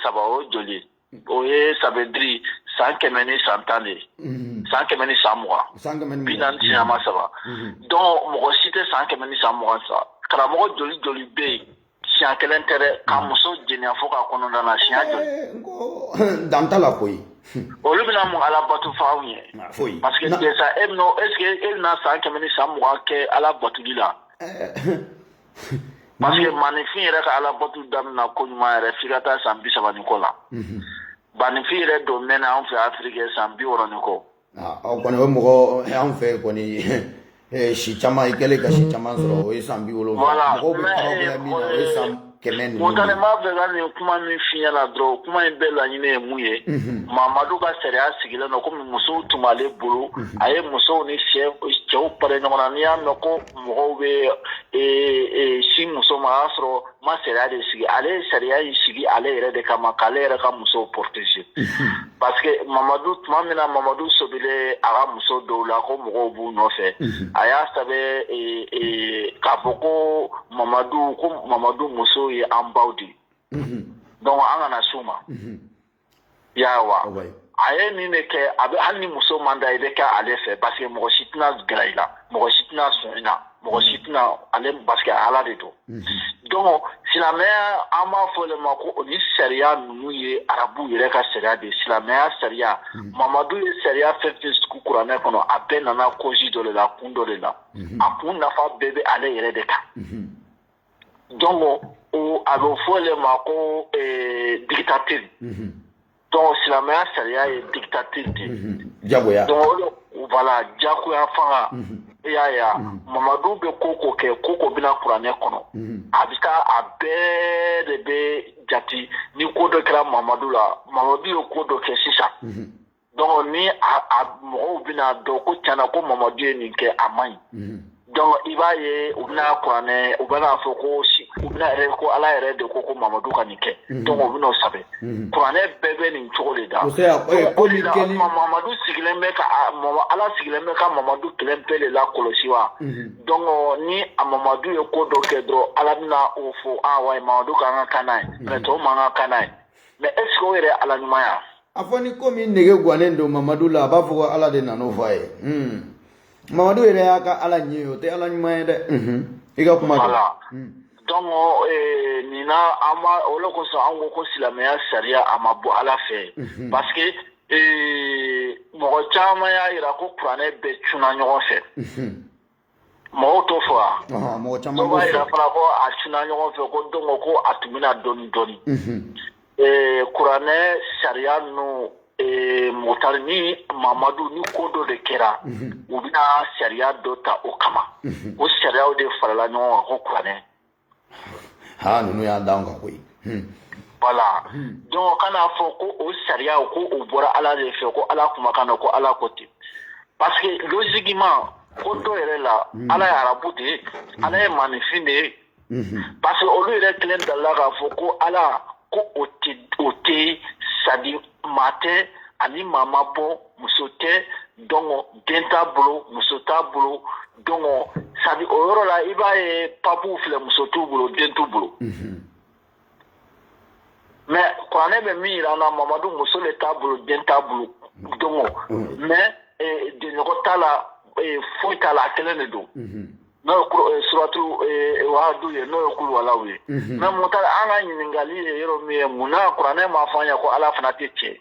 saba o joli o ye ça veut dire san kɛmɛ ni san tan de mhm. san kɛmɛ ni san mugan bi naani siɲɛma saba mhm. donc mɔgɔ si tɛ san kɛmɛ ni san mugan sa karamɔgɔ joli joli bɛ yen siɲɛ kelen tɛ dɛ ka mhm. muso jɛnɛya fo k'a kɔnɔna na siɲɛ joli eh, dan t'a la koyi olu bɛna mun ala bato fɔ anw ye parce que déjà e bɛna est ce que e bɛna san kɛmɛ ni san mugan kɛ ala batoli la eh, parce que maninfin yɛrɛ ka ala batu daminɛ ko ɲuman yɛrɛ f'i ka taa san bi saba ni kɔ la maninfin yɛrɛ don mɛn an fɛ afiriki san bi wɔɔrɔ ni kɔ kɔni bɛ mɔgɔ an fɛ kɔni si caman i kɛlen ka si caman sɔrɔ o ye san bi wolonwula mɔgɔ kɛmɛ Montana b'a fɛ ka nin kuma min f'i ɲɛna dɔrɔn kuma in bɛɛ laɲini ye mun ye mamadu ka sariya sigilen don kɔmi musow tun b'ale bolo a ye musow ni cɛw fara ɲɔgɔn na n'i y'a mɛn ko mɔgɔw bɛ sin muso ma a y'a sɔrɔ ma sariya de sigi ale ye sariya in sigi ale yɛrɛ de kama k'ale yɛrɛ ka muso protéger parce que mamadu tuma min na mamadu sɔbila a ka muso dɔw la ko mɔgɔw b'u nɔfɛ a y'a sɛbɛn k'a fɔ ko mamadu ko mamadu musow ye an baw de ye donc an kana s'u ma i y'a ye wa a ye nin de kɛ a bɛ hali ni muso man da i bɛ kɛ ale fɛ parce que mɔgɔ si tɛna gɛrɛ i la mɔgɔ si tɛna sɔn i la mɔgɔ si tɛna ale parce que ala de don donc silamɛya an b'a fɔ le ma ko o ni sariya ninnu ye arabu yɛrɛ ka sariya de ye silamɛya sariya mamadu ye sariya fɛn fɛn sigi kuranɛ kɔnɔ a bɛɛ nana cause dɔ de la kun dɔ de la a kun nafa bɛɛ bɛ ale yɛrɛ de kan donc a bɛ fɔ le ma ko dictature don silamɛya sariya ye dictature de jagoya voilà jagoya fanga i y'a ye mamadu bɛ ko o ko kɛ ko o ko bɛ na kuranɛ kɔnɔ a bɛ taa a bɛɛ de bɛ jate ni ko dɔ kɛra mamadu la mamadu ye ko dɔ kɛ sisan donc ni a mɔgɔw bɛna dɔn ko tiɲɛna ko mamadu ye nin kɛ a man ɲi donc i b'a ye u bɛna kuranɛ u bɛna fɔ ko u bɛna yɛrɛ ko ala yɛrɛ de ko ko mamadu ka nin kɛ donc u bɛna o sɛbɛn kuranɛ bɛɛ bɛ nin cogo de da o de la mamadu sigilen bɛ ka ala sigilen bɛ ka mamadu kelen pe de lakɔlɔsi wa donc ni a mamadu ye ko dɔ kɛ dɔrɔn ala bɛna o fɔ a wa mamadu ka kan ka kan n'a ye mais tɔw man kan ka kan n'a ye mais est ce que o yɛrɛ ala ɲumanya a fɔ ni ko min nege gannen don mamadu la a b'a fɔ ko ala de nan'o fɔ a ye hmm. mamadu yɛrɛ y'a ka ala ye o tɛ ala ɲuman ye dɛ hmm. i ka kuma dɔn hmm. donc eh, nin na an b'a o de kosɔn an ko ko silamɛya sariya a ma bɔ ala fɛ parce que eh, mɔgɔ caman y'a yira ko kuranɛ bɛɛ cunna ɲɔgɔn fɛ Mɔgɔw t'o fɔ wa? Ɔnhɔn, mɔgɔ caman b'o fɔ. Dɔw b'a jira fana ko a cunna ɲɔgɔn fɛ, ko donc ko a tun bɛ na dɔɔnin dɔɔnin. Unhun. Ee kuranɛ sariya ninnu, ee Mukutari ni Mamadu ni ko dɔ de kɛra. Unhun. U bɛna sariya dɔ ta o kama. Unhun. O sariyaw de farala ɲɔgɔn kan ko kuranɛ. ha ninnu y'a d'an kan koyi voilà donc kan'a fɔ ko o sariya ko o bɔra ala de fɛ ko ala kumakan na ko ala ko ten parce que logiquement ko dɔ yɛrɛ la ala ye arabu de ye ala ye maninfin de ye parce que olu yɛrɛ kelen dalila k'a fɔ ko ala ko o tɛ o tɛ c'est-à-dire maa tɛ ani maa ma bɔ muso tɛ donc den t'a bolo muso t'a bolo Donc sabu o yɔrɔ la i b'a ye papuw filɛ muso t'u bolo den t'u bolo mais kuranɛ bɛ min jira an na mamadu muso de t'a bolo den t'a bolo donc mais dɛɲɔgɔn t'a la foyi t'a la a kelen de don n'o suratu wahadu ye n'o ye kuluwalaw ye mais mun an ka ɲininkakali ye yɔrɔ min ye mun na kuranɛ m'a fɔ an ye ko ala fana tɛ cɛ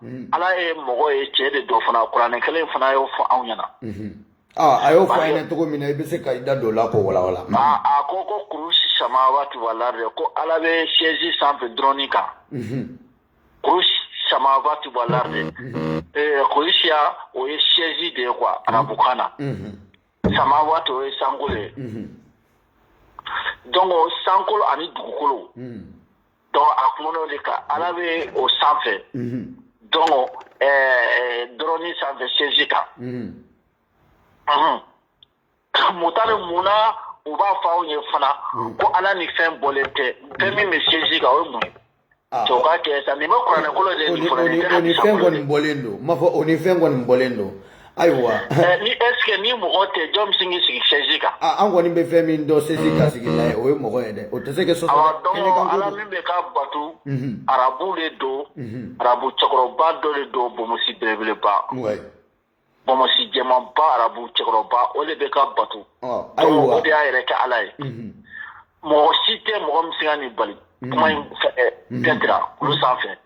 hmm. ala ye mɔgɔ ye cɛ de don fana kuranɛ kelen fana y'o fɔ anw ɲɛna hmm. ah, a y'o fɔ an ɲɛna cogo min na i bɛ se ka i da don o la k'o walawala hmm. ah, a ko ko kurusi samawaati wal ardi ko ala bɛ sɛzi sanfɛ trône kan kurusi samawaati wal ardi eh, kurusiya o ye sɛzi de ye quoi arabukan na samawaati o ye sankolo ye donc sankolo ani dugukolo donc a kumana o de kan ala bɛ o sanfɛ donc trône sanfɛ sɛzi kan Mutari mun na u b'a fɔ aw ye fana ko ala ni fɛn bɔlen tɛ fɛn min bɛ sɛzi kan o ye mun ye cɛw ka kɛ sa nin bɛ kuranɛ kɔnɔ de fɛn kɔni bɔlen don ma fɔ o ni fɛn kɔni bɔlen don ayiwa ni est-ce que ni mɔgɔ tɛ jɔn bɛ se k'i sigi sɛzi kan an kɔni bɛ fɛn min dɔn sɛzi kan sigila o ye mɔgɔ ye dɛ o tɛ se ka sɔsɔ kɛnɛ kan ala min bɛ ka bato arabu de don arabu cɛkɔrɔba dɔ de don bomosi belebeleba bomosi jɛmanba arabu cɛkɔrɔba o de bɛ ka bato ayiwa o de y'a yɛrɛ kɛ ala ye mɔgɔ si tɛ mɔgɔ min se ka nin bali kuma in fɛ Pɛtira olu sanfɛ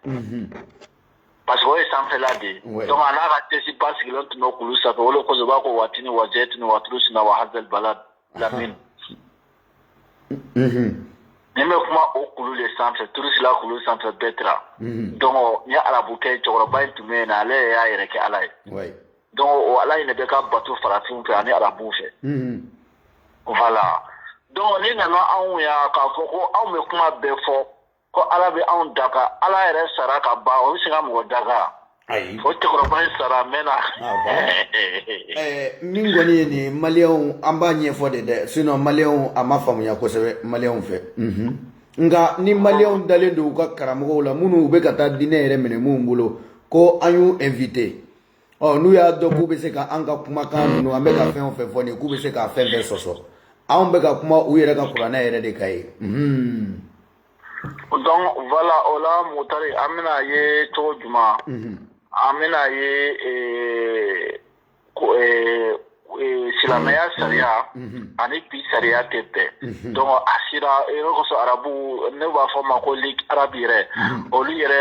Parce que o ye sanfɛla de ye, oui, donc a n'a ka sɛzi ba sigilen tun bɛ kulu sanfɛ, o de kosɔn u b'a fɔ ko wa tini wa zɛtini wa turu sina wa hazal balad lamini, unhun, nin bɛ kuma o kulu de sanfɛ turu sina kulu sanfɛ Pɛtira, unhun, donc nin arabukɛ cɛkɔrɔba in tun bɛ yen na ale yɛrɛ y'a yɛrɛ kɛ ala ye, oui, donc o ala in de bɛ ka bato farafinw fɛ ani arabuw fɛ, unhun, voilà donc ni nana anw ya k'a fɔ ko anw bɛ kuma bɛɛ fɔ ko ala bɛ anw danga ala yɛrɛ sara ka ban o bɛ se ka mɔgɔ danga ayi o cɛkɔrɔba in sara a mɛnna Ah, bon? Ɛɛ, min kɔni ye nin ye maliyɛnw an b'a ɲɛfɔ de dɛ sinɔn maliyɛnw a ma faamuya kosɛbɛ maliyɛnw fɛ Mhm. nka ni maliyɛnw dalen don u ka karamɔgɔw la minnu u bɛ ka taa diinɛ yɛrɛ minɛ minnu bolo ko an y'u invite ɔ n'u y'a dɔn k'u bɛ se ka an ka kumakan ninnu an bɛ ka fɛn o fɛn fɔ nin k'u bɛ se ka fɛn fɛn sɔsɔ anw bɛ ka kuma u yɛrɛ ka kuranɛ yɛrɛ de kan ye. Mhm. donc voilà o la mutari an bɛna a ye cogo jumɛn. Mhm. an bɛna a ye eh, eh, eh, silamɛya sariya mhm. ani bi sariya tɛ bɛn mhm. donc a sira ne kosɔn arabu ne b'a fɔ ma ko ligue arabe yɛrɛ mhm. olu yɛrɛ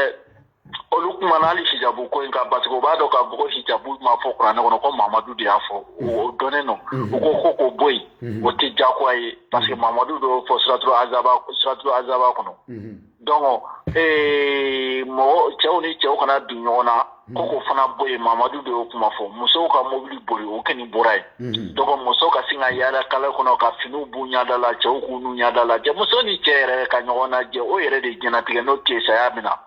olu kumana hali hijabu ko in kan parce que u b'a dɔn k'a fɔ ko hijabu ma fɔ kuranɛ kɔnɔ ko mamadu de y'a fɔ o dɔnnen don u ko ko k'o bɔ yen o tɛ jagoya ye parce que mamadu d'o fɔ suratu suratu azaba kɔnɔ donc ee mɔgɔ cɛw ni cɛw kana don ɲɔgɔn na ko k'o fana bɔ yen mamadu de y'o kuma fɔ musow ka mobili boli o kɔni bɔra yen Mhm. donc muso ka se ka yaala kare kɔnɔ ka finiw b'u ɲɛda la cɛw k'u n'u ɲɛda lajɛ muso ni cɛ yɛrɛ ka ɲɔgɔn lajɛ o yɛrɛ de diɲɛnatigɛ n'o tɛ saya min na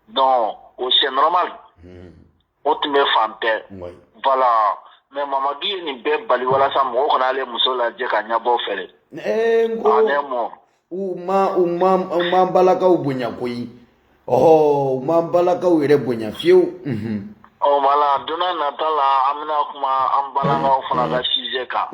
donc o c'est normal mhm. o tun bɛ fan bɛɛ voilà mais mamadu ye nin bɛɛ bali walasa mɔgɔw kana ale muso lajɛ ka ɲɛbɔ a fɛ dɛ eh, ale mɔ u ma u ma u ma balakaw bonya koyi ɔhɔ u ma balakaw yɛrɛ bonya fiyewu ɔ voilà don nata la an bɛna kuma an balakaw fana ka sujet kan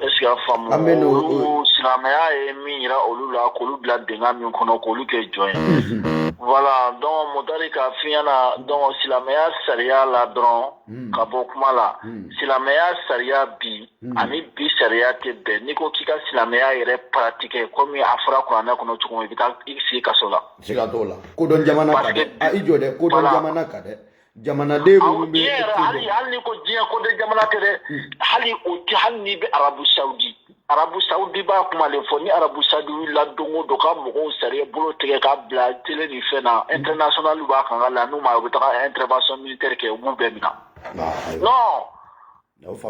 est-ce que i y'a faamu An bɛ n'o- olu silamɛya ye min yira olu la k'olu bila dingɛ min kɔnɔ k'olu kɛ jɔn ye voilà donc mutari k'a f'i ɲɛ na donc silamɛya sariya la dɔrɔn Hmm. ka bɔ kuma la hmm. silamɛya sariya bi hmm. ani bi sariya tɛ bɛn n'i ko k'i ka silamɛya yɛrɛ paratike komi a fɔra kuranɛ kɔnɔ cogo min i bɛ taa i sigi kaso la siga t'o la kodɔn jamana kan dɛ a i jɔ dɛ kodɔn jamana kan dɛ jamanaden minnu bɛ hali hali n'i ko diɲɛ kodɔn jamana tɛ dɛ hali o tɛ hali n'i bɛ arabu sawudi arabu saudi b'a kuma de fɔ ni arabu saudi wulila don o don ka mɔgɔw sariya bolo tigɛ k'a bila tele ni fɛn na international b'a kan ka la n'u ma u bɛ taga intervention militaire kɛ u b'u bɛɛ minɛ non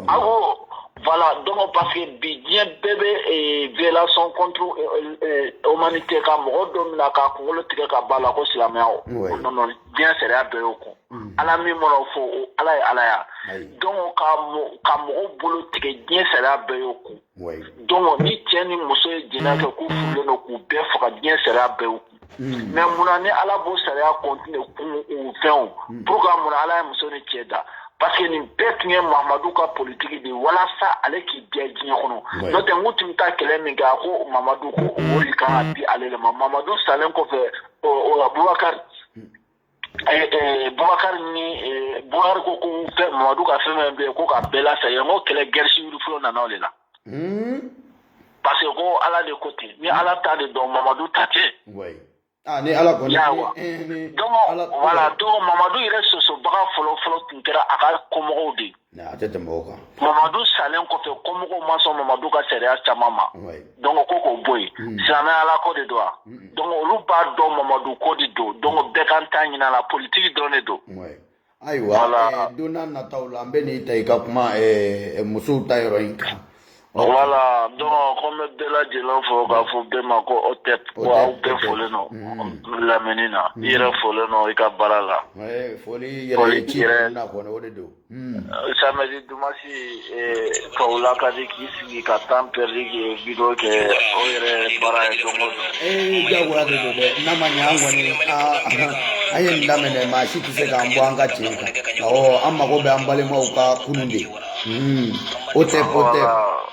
awo voilà donc parce que bi diɲɛ bɛɛ bɛ eh, violation contre eh, eh, humanité ka mɔgɔ dɔ minɛ k'a kunkolo tigɛ ka b'a la ko silamɛya o non non diɲɛ sariya bɛɛ y'o kɔn mm. ala min mana fɔ o ala ye ala ya donc ka ka mɔgɔw bolo tigɛ diɲɛ sariya bɛɛ y'o kɔn donc ni cɛ ni muso ye jɛnɛ kɛ k'u furulen don k'u bɛɛ faga diɲɛ sariya bɛɛ y'o kɔn mm. mais munna ni ala b'o sariya continue kun u fɛnw mm. pourquoi munna ala ye muso ni cɛ da parce que nin bɛɛ tun ye mamadu ka politiki de walasa ale k'i diya diɲɛ kɔnɔ n'o tɛ n k'u tun bɛ taa kɛlɛ min kɛ a ko mamadu ko o de kan ka di ale de ma mamadu salen kɔfɛ ɔ o la bubakari bubakari ni bubakari ko ko fɛn mamadu ka fɛn fɛn bɛ yen ko k'a bɛɛ lasa yen n ko kɛlɛ guerre civile fɔlɔ nana o de la parce que ko ala de ko ten ni ala ta de don mamadu ta tɛ Ah, ni ala kɔni donc voilà donc mamadu yɛrɛ sɔsɔbaga fɔlɔ fɔlɔ tun kɛra a ka kɔmɔgɔw de ye a tɛ tɛmɛ o kan mamadu salen kɔfɛ kɔmɔgɔw ma sɔn mamadu ka sariya caman ma donc ko k'o bɔ yen mm. silamɛya ala ko de don wa donc olu b'a dɔn mamadu ko de don donc bɛɛ k'a ta ɲin'a la politiki dɔrɔn de don ayiwa eh, don n'a nataw la an bɛn'i ta i ka kuma eh, eh, musow ta yɔrɔ in kan Voilà donc ko n bɛ bɛɛ lajɛlen fo k'a fɔ bɛɛ ma ko otep aw bɛɛ folen don lamɛnni na i yɛrɛ folen don i ka baara la samɛdi dumasi ka la ka di k'i sigi ka temps perdi ka vidéo kɛ o yɛrɛ baara ye donc a man nɔgɔn ni an ye lamɛn maa si tɛ se k'an bɔ an ka cɛ an mago bɛ an balimaw ka kunun de Mm. otep otep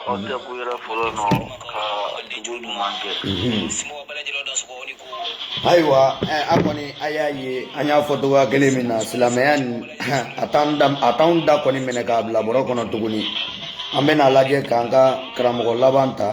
otep ko i yɛrɛ folen don ka jo ɲuman kɛ ayiwa an kɔni a y'a ye an y'a fɔ cogoya kelen min na silamɛya nin a t'an da a t'anw da kɔni minɛ k'a bila bɔrɔ kɔnɔ tuguni an bɛn'a lajɛ k'an ka karamɔgɔ laban ta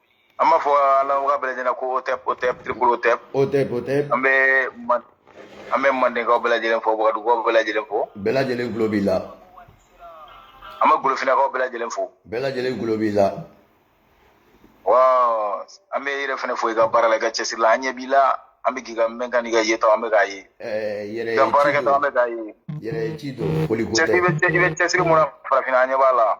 an b'a fɔ alawaga bɛɛ lajɛlen ko otep otep triple otep otep otep an bɛ an bɛ mandenkaw bɛɛ lajɛlen fo wagadugukaw bɛɛ lajɛlen fo bɛɛ lajɛlen tulo b'i la an bɛ golofinakaw bɛɛ lajɛlen fo bɛɛ lajɛlen tulo b'i la wa an b'i yɛrɛ fana fo i ka baara la i ka cɛsiri la an ɲɛ b'i la an bɛ k'i ka mɛnkan n'i ka yeta an bɛ k'a ye i ka baarakɛtɔ an bɛ k'a ye yɛrɛ ci don foli ko tɛ i bɛ cɛsiri min na farafinna an ɲɛ b'a la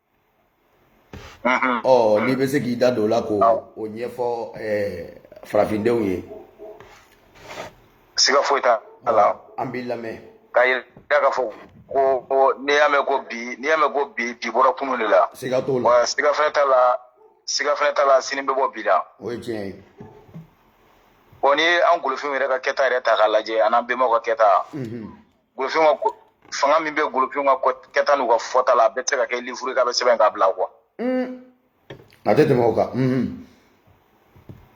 ɔ n'i bɛ se k'i da don o la k'o o ɲɛfɔ farafindenw ye siga foyi t'a la an b'i lamɛn k'a yira k'a fɔ ko ko n'i y'a mɛn ko bi n'i y'a mɛn ko bi bi bɔra kunun de la siga t'o la wa siga fɛnɛ t'a la siga fɛnɛ t'a la sini bɛ bɔ bi la o ye tiɲɛ ye bon n'i ye an golofinw yɛrɛ ka kɛta yɛrɛ ta k'a lajɛ an'an bɛnbaw ka kɛta golofin ka ko fanga min bɛ golofin ka kɛta n'u ka fɔta la a bɛɛ tɛ se ka kɛ livre k'a bɛɛ sɛbɛn k'a bila quoi a tɛ tɛmɛ o kan mhm.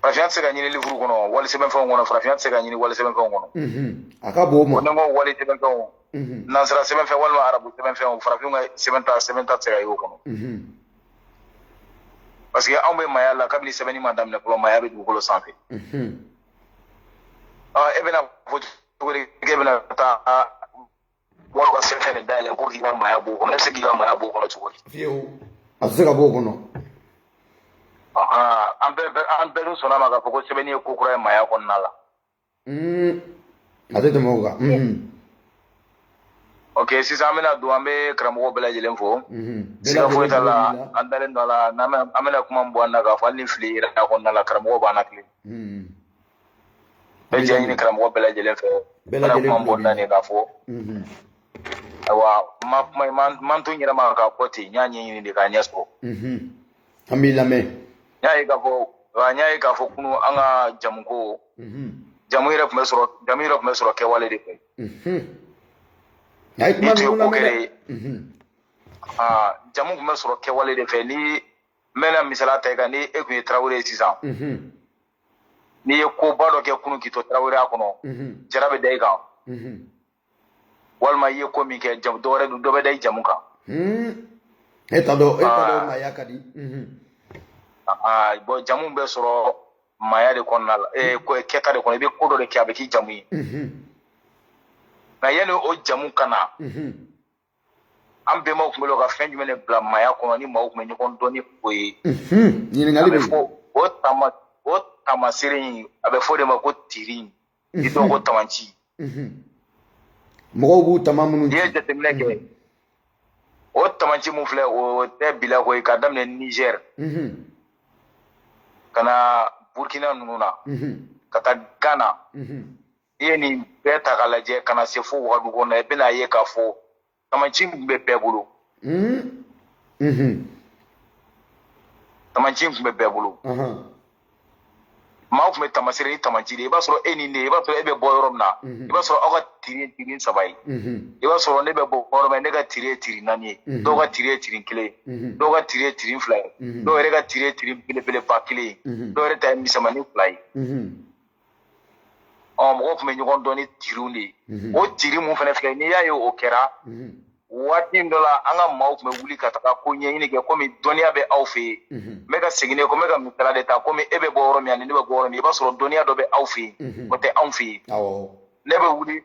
farafinya tɛ se ka ɲini livre kɔnɔ wali sɛbɛnfɛnw kɔnɔ farafinya tɛ se ka ɲini wali sɛbɛnfɛnw kɔnɔ Mhm. a ka bon o ma ni ne ko wali sɛbɛnfɛnw Mhm. nansara sɛbɛnfɛn walima arabu sɛbɛnfɛnw farafinw ka sɛbɛn ta sɛbɛn ta tɛ se ka ye o kɔnɔ Mhm. parce que anw bɛ maaya la kabini sɛbɛnni ma daminɛ fɔlɔ maaya bɛ dugukolo sanfɛ Mhm. Ah, e bɛna fɔ k'e bɛna taa wali ka sɛbɛn de dayɛlɛ ko k'i ka maaya b'o kɔnɔ e bɛ se k'i ka maaya b'o kɔnɔ cogo di. fiyewu a tɛ se ka b'o kɔnɔ. an bɛɛ bɛ an bɛɛ dun sɔnna a ma k'a fɔ ko sɛbɛnni ye ko kura ye maaya kɔnɔna la. a tɛ tɛmɛ o kan. ok sisan an bɛna don an bɛ karamɔgɔ bɛɛ lajɛlen fo. siga foyi t'a la an dalen don a la n'an bɛ an bɛna kuma min bɔ an da k'a fɔ hali ni fili yera a kɔnɔna la karamɔgɔ b'an latilen. bɛ jɛ ɲini karamɔgɔ bɛɛ lajɛlen fɛ n bɛna kuma min bɔ n da nin k'a fɔ ayiwa n ma n ma n to n yɛrɛ ma k'a fɔ ten n y'a ɲɛɲini de k'a ɲɛ sɔrɔ an b'i lamɛn n y'a ye k'a fɔ n y'a ye k'a fɔ kunu an ka jamuko jamu yɛrɛ tun bɛ sɔrɔ jamu yɛrɛ tun bɛ sɔrɔ kɛwale de fɛ n'i tun ye ko kɛla ye jamu tun bɛ sɔrɔ kɛwale de fɛ ni n bɛna misaliya ta i kan ni e tun ye tarawele ye sisan n'i ye koba dɔ kɛ kunun k'i to taraweleya kɔnɔ mhm. jara bɛ da i kan mhm. walima i ye ko min kɛ jamu dɔwɛrɛ dɔ bɛ da i jamu kan hmm. e t'a dɔn e t'a dɔn ah. maaya ka di mhm. ah, ah, bɔn jamu bɛ sɔrɔ maaya de kɔnɔna la eh, hmm. kɛta de kɔnɔ i bɛ ko dɔ de kɛ a bɛ k'i jamu ye nka yanni o jamu ka na an bɛnbaw tun bɛ ka fɛn jumɛn de bila maaya kɔnɔ ni maaw tun bɛ ɲɔgɔn dɔn ni o ye ɲininkali bɛ fɔ o tama o tamasere in a bɛ fɔ o de ma ko tiri ni dɔw ko tamanci mɔgɔw b'u tama minnu n'i ye jateminɛ kɛ o tamanci min filɛ o tɛ bila ko ye ka daminɛ nizɛr ka na burukina ninnu na ka taa gana i ye nin bɛɛ ta k'a lajɛ ka na se fo wagadu kɔnɔ i bɛna ye k'a fɔ tamaci tun bɛ bɛɛ bolo hmm? mhm. tamaci tun bɛ bɛɛ bolo maa tun bɛ tamasere ni tamaci de i b'a sɔrɔ e ni ne i b'a sɔrɔ e bɛ bɔ yɔrɔ min na mhm. i b'a sɔrɔ aw ka tiri ye tiri saba ye mhm. i b'a sɔrɔ ne bɛ bɔ yɔrɔ min ne ka tiri ye tiri naani ye dɔw ka tiri ye tiri kelen ye dɔw ka tiri ye tiri fila ye dɔw yɛrɛ ka tiri ye tiri belebeleba kelen ye dɔw yɛrɛ ta ye misɛnmanin fila ye ɔ mɔgɔw tun bɛ ɲɔgɔn dɔn ni tiriw de ye o tiri min fana filɛ n'i y'a ye o kɛra waati dɔ la an ka maaw tun bɛ wuli ka taga ko ɲɛɲini kɛ komi dɔnniya bɛ aw fɛ yen n bɛ ka segin ko n bɛ ka misala de ta komi e bɛ bɔ yɔrɔ min ani ne bɛ bɔ yɔrɔ min i b'a sɔrɔ dɔnniya dɔ bɛ aw fɛ yen o tɛ anw fɛ yen ne bɛ wuli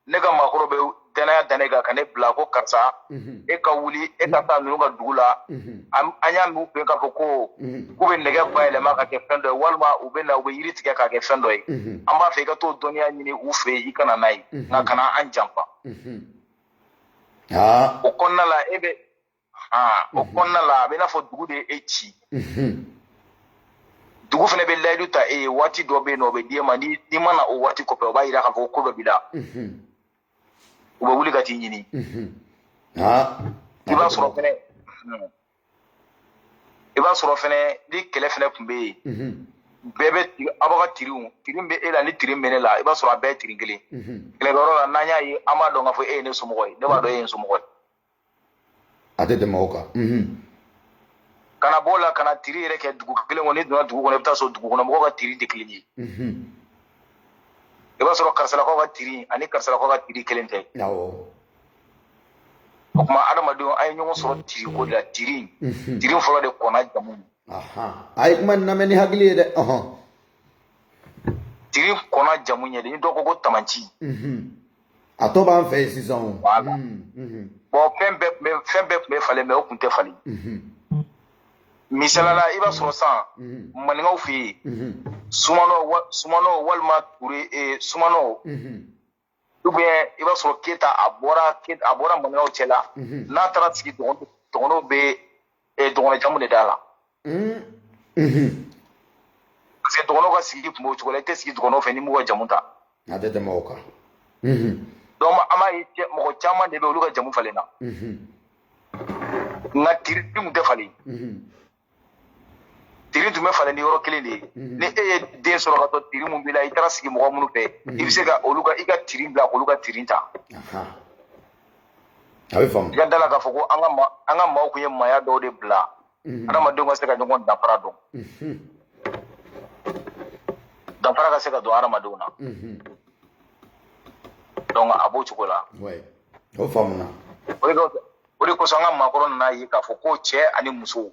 ne ka maakɔrɔ bɛ danaya da ne kan ka ne bila ko karisa mhm. e ka wuli e ka taa ninnu ka dugu la mhm. an y'a mɛn u fɛ k'a fɔ ko mhm. k'u bɛ nɛgɛ bayɛlɛma ka kɛ fɛn dɔ ye walima u bɛ na u bɛ yiri tigɛ k'a kɛ fɛn dɔ ye an b'a fɛ i ka t'o dɔnniya ɲini u fɛ yen i ka na n'a ye nka kana an janfa o kɔnɔna la e bɛ aa o kɔnɔna la a bɛ i n'a fɔ dugu de ye e ci dugu fana bɛ layidu ta e ye waati dɔ bɛ yen nɔ o bɛ d'e ma n'i n'i ma na o waati kɔfɛ o b'a yira k'a fɔ ko ko dɔ b'i la u bɛ wuli ka t'i ɲini aa i b'a sɔrɔ fɛnɛ i b'a sɔrɔ fɛnɛ ni kɛlɛ fɛnɛ tun bɛ yen bɛɛ bɛ tiri aw b'a ka tiriw tiri min bɛ e la ni tiri min bɛ ne la i b'a sɔrɔ a bɛɛ ye tiri kelen kɛlɛkɛyɔrɔ la n'an y'a ye an b'a dɔn k'a fɔ e ye ne somɔgɔ ye ne b'a dɔn e ye n somɔgɔ ye a tɛ tɛmɛ o kan ka na b'o la ka na tiri yɛrɛ kɛ dugu kelen kɔnɔ n'i donna dugu kɔnɔ i bɛ t'a sɔrɔ dugu kɔnɔ mɔgɔw ka tiri tɛ kelen ye i b'a sɔrɔ karisalakaw ka tiri ani karisalakaw ka tiri kelen tɛ o tuma adamadenw an ye ɲɔgɔn sɔrɔ tiri ko de la tiri tiri fɔlɔ de kɔnna jamu a ye kuma lamɛn ni hakili ye dɛ tiri kɔnna jamu ɲɛ dɛ ni dɔ ko ko tamanci a tɔ b'an fɛ yen sisan o. wala bɔn fɛn bɛɛ tun bɛ fɛn bɛɛ tun bɛ falen mais o tun tɛ falen. misali la i b'a sɔrɔ san maninkaw fɛ yen sumanɔ sumanɔ walima ture eh, sumanɔ dunbiya i b'a sɔrɔ keta a bɔra a bɔra maninkaw cɛla n'a taara sigi dɔgɔnɔw bɛ ee dɔgɔnɔ jamu de d'a la parce que dɔgɔnɔw ka sigi tun b'o cogo la i tɛ sigi dɔgɔnɔw fɛ n'i m'u ka jamu ta a tɛ tɛmɛ o kan donc an b'a ye mɔgɔ caman de bɛ olu ka jamu falen na nka tiri tun tɛ falen tiri tun bɛ falen ni yɔrɔ kelen de ye ni e ye den sɔrɔ ka to tiri mun b'i la i taara sigi mɔgɔ minnu fɛ i bɛ se ka olu ka i ka tiri bila k'olu ka tiri ta a bɛ faamu i ka d'a la k'a fɔ ko an ka ma an ka maaw kun ye maaya dɔw de bila adamadenw ka se ka ɲɔgɔn danfara dɔn danfara ka se ka don adamadenw na donc a b'o cogo la o faamuna o de kosɔn an ka maakɔrɔ nan'a ye k'a fɔ ko cɛ ani muso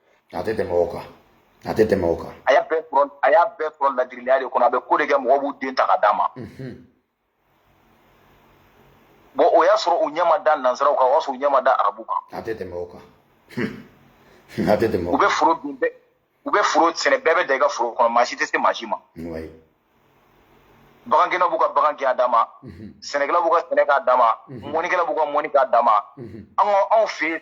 a tɛ tɛmɛ o kan a tɛ tɛmɛ o kan a y'a bɛɛ sɔrɔ a y'a bɛɛ sɔrɔ ladiriya de kɔnɔ a bɛ ko de kɛ mɔgɔw b'u den ta ka d'a ma bon o y'a sɔrɔ u ɲɛ ma da nansaraw kan o y'a sɔrɔ u ɲɛ ma da arabu kan a tɛ tɛmɛ o kan a tɛ tɛmɛ o u bɛ foro dun bɛɛ u bɛ foro sɛnɛ bɛɛ bɛ taa i ka foro kɔnɔ maa si tɛ se maa si ma bagankɛlaw b'u ka bagan kɛ a d'a ma sɛnɛkɛlaw b'u ka sɛnɛ k'a d'a ma mɔnikɛlaw b'u ka mɔni k'a d'a ma anw fɛ yen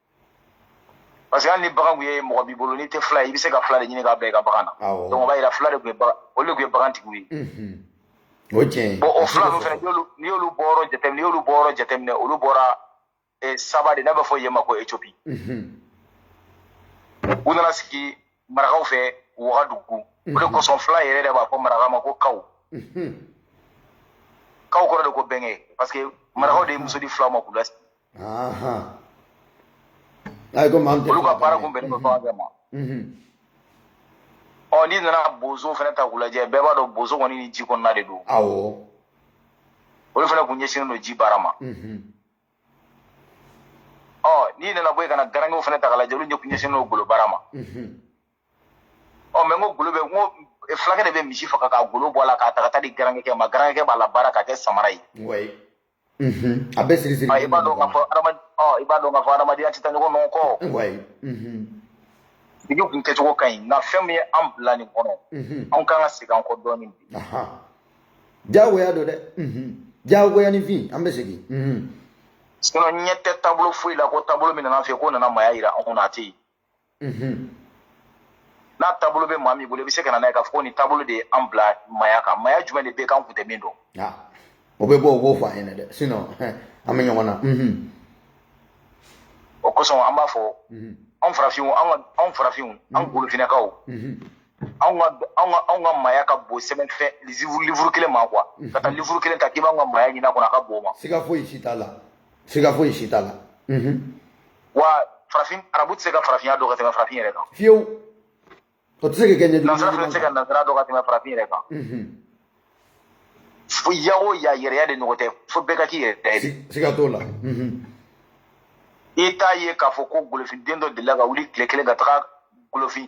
parce que hali ni bagan kun ye mɔgɔ b'i bolo n'i tɛ fila ye i bɛ se ka fila de ɲini k'a bila i ka bagan na donc o b'a yira fila de kun ye bagan olu de kun ye bagantigiw ye o ye tiɲɛ ye bon o fila ninnu fɛnɛ n'i y'olu bɔyɔrɔ jateminɛ n'i y'olu bɔyɔrɔ jateminɛ olu bɔra saba de n'a bɛ fɔ yen ma ko Éthiopie u nana sigi marakaw fɛ wagadugu o de kosɔn fila yɛrɛ de b'a fɔ maraka ma ko kaw kaw kɔrɔ de ko bɛnkɛ parce que marakaw de ye muso di filaw ma k'u lasigi olu ka baara kun bɛnnen bɛ bagan de ma ɔ n'i nana bozo fɛnɛ ta k'u lajɛ bɛɛ b'a dɔn bozo kɔni ni ji kɔnɔna de don olu fɛnɛ kun ɲɛsinnen don ji baara ma n'i nana bɔ yen ka na garankɛw fɛnɛ ta k'a lajɛ olu ɲɛsinnen don golo baara ma ɔ mais n ko golo bɛ n ko fulakɛ de bɛ misi faga k'a golo bɔ a la k'a ta ka taa di garankɛ ma garankɛ b'a labaara k'a kɛ samara ye a bɛ siri siri i b'a dɔn k'a fɔ i b'a dɔn k'a fɔ adamadenya tɛ taa ɲɔgɔn nɔ kɔ sigi kun kɛcogo ka ɲi nka fɛn min ye an bila nin kɔnɔ anw kan ka segin an kɔ dɔɔnin bi jagoya don dɛ jagoya ni fin an bɛ segin sinon ɲɛ tɛ taabolo foyi la ko taabolo min nana an fɛ ko nana maya yira anw na a tɛ yen n'a taabolo bɛ maa min bolo i bɛ se ka na n'a ye k'a fɔ ko nin taabolo de ye an bila maya kan maya jumɛn de bɛ k'an kun tɛ min dɔn o bɛ bɔ o b'o fɔ an ɲɛna dɛ sinon an bɛ ɲɔgɔn na o kosɔn an b'a fɔ anw farafinw anw farafinw an golofinɛkaw anw ka anw ka anw ka maaya ka bon sɛbɛnfɛn livre kelen ma quoi ka taa livre kelen ta k'i b'anw ka maaya ɲin'a kɔnɔ a ka bon o ma siga foyi si t'a la siga foyi si t'a la wa farafin arabu tɛ se ka farafinya dɔn ka tɛmɛ farafin yɛrɛ kan fiyewu o tɛ se ka kɛ ɲɛjugu nansara fana tɛ se ka nansara dɔn ka tɛmɛ farafin yɛrɛ kan fo ya o ya yɛrɛya de ɲɔgɔn tɛ fo bɛɛ ka k'i yɛrɛ ye siga t'o la i t'a ye k'a fɔ ko golofinden dɔ delila ka wuli tile kelen ka taga golofin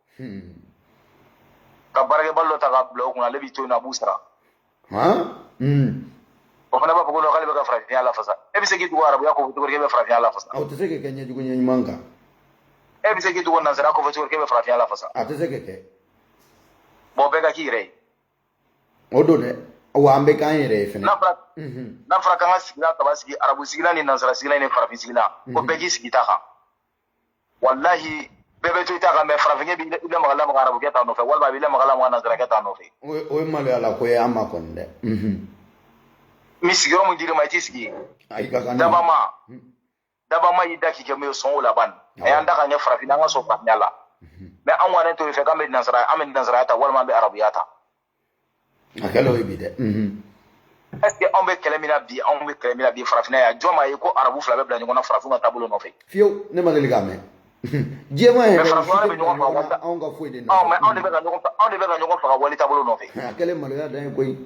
Hmm. Ka baarakɛbali dɔ ta k'a bila o kunna ale b'i to yen a b'u sara. Hmm. O fana b'a fɔ ko k'ale bɛ ka farafinya lafasa. E bɛ se k'i tugu arabuya kɔfɛ cogo di k'e bɛ farafinya lafasa? O tɛ se ka kɛ ɲɛjugu ɲɛ ɲuman kan. E bɛ se k'i tugu nansara kɔfɛ cogo di k'e bɛ farafinya lafasa? A tɛ se ka kɛ. Bon bɛɛ ka k'i yɛrɛ ye. O don dɛ. wa an bɛ k'an yɛrɛ ye fɛnɛ n'a fɔra mhm. k'an ka sigilan saba sigi arabu sigilan ni nansara sigilan ni farafin sigilan ko mhm. bɛɛ k'i sigi ta kan walahi bɛɛ bɛ to i ta kan mais farafinkɛ b'i lamaga lamaga arabukɛ ta nɔfɛ walima a b'i lamaga lamaga nansarakɛ ta nɔfɛ o ye maloya la ko ye an ma kɔni dɛ ni sigiyɔrɔ min dir'i ma i t'i sigi yen dabama dabama y'i da k'i kɛ min ye sɔn o la ban a y'an da k'an kɛ farafin an ka sɔn farafinya la mais an kɔni t'o fɛ k'an bɛ nansara an bɛ nansaraya ta walima an bɛ arabuya ta a kɛlen o ye bi dɛ est ce que anw bɛ kɛlɛ min na bi anw bɛ kɛlɛ min na bi farafinna yan jɔn m'a ye ko arabu fila bɛ bila ɲɔgɔn na farafinw ka taabolo nɔfɛ fiyewu ne ma deli k'a mɛn diɲɛma yɛrɛ anw ka foyi de nɔfɛ anw de bɛ ka ɲɔgɔn faga wali taabolo nɔfɛ a kɛlen maloya dan ye koyi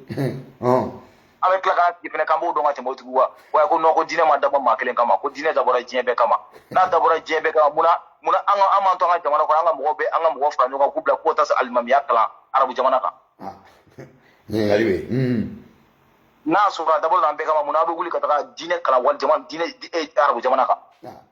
an bɛ tila k'an sigi fɛnɛ k'an b'o dɔn ka tɛmɛ o tigiw kan wa ko non ko diinɛ ma dabɔ maa kelen kama ko diinɛ dabɔra diɲɛ bɛɛ kama n'a dabɔra diɲɛ bɛɛ kama munna munna an ka an m'an to an ka jamana kɔnɔ an ka mɔgɔw bɛ an ka mɔgɔw fara ɲɔgɔn kan k'u bila k'u taa se alimamiya kalan arabu jamana kan. Ah. ɲininkali bɛ yen. n'a sɔrɔ a dabɔra an bɛɛ kama munna aw bɛ wuli ka taga diinɛ kalan wali jamana diinɛ eh, arabu jamana kan. Ah.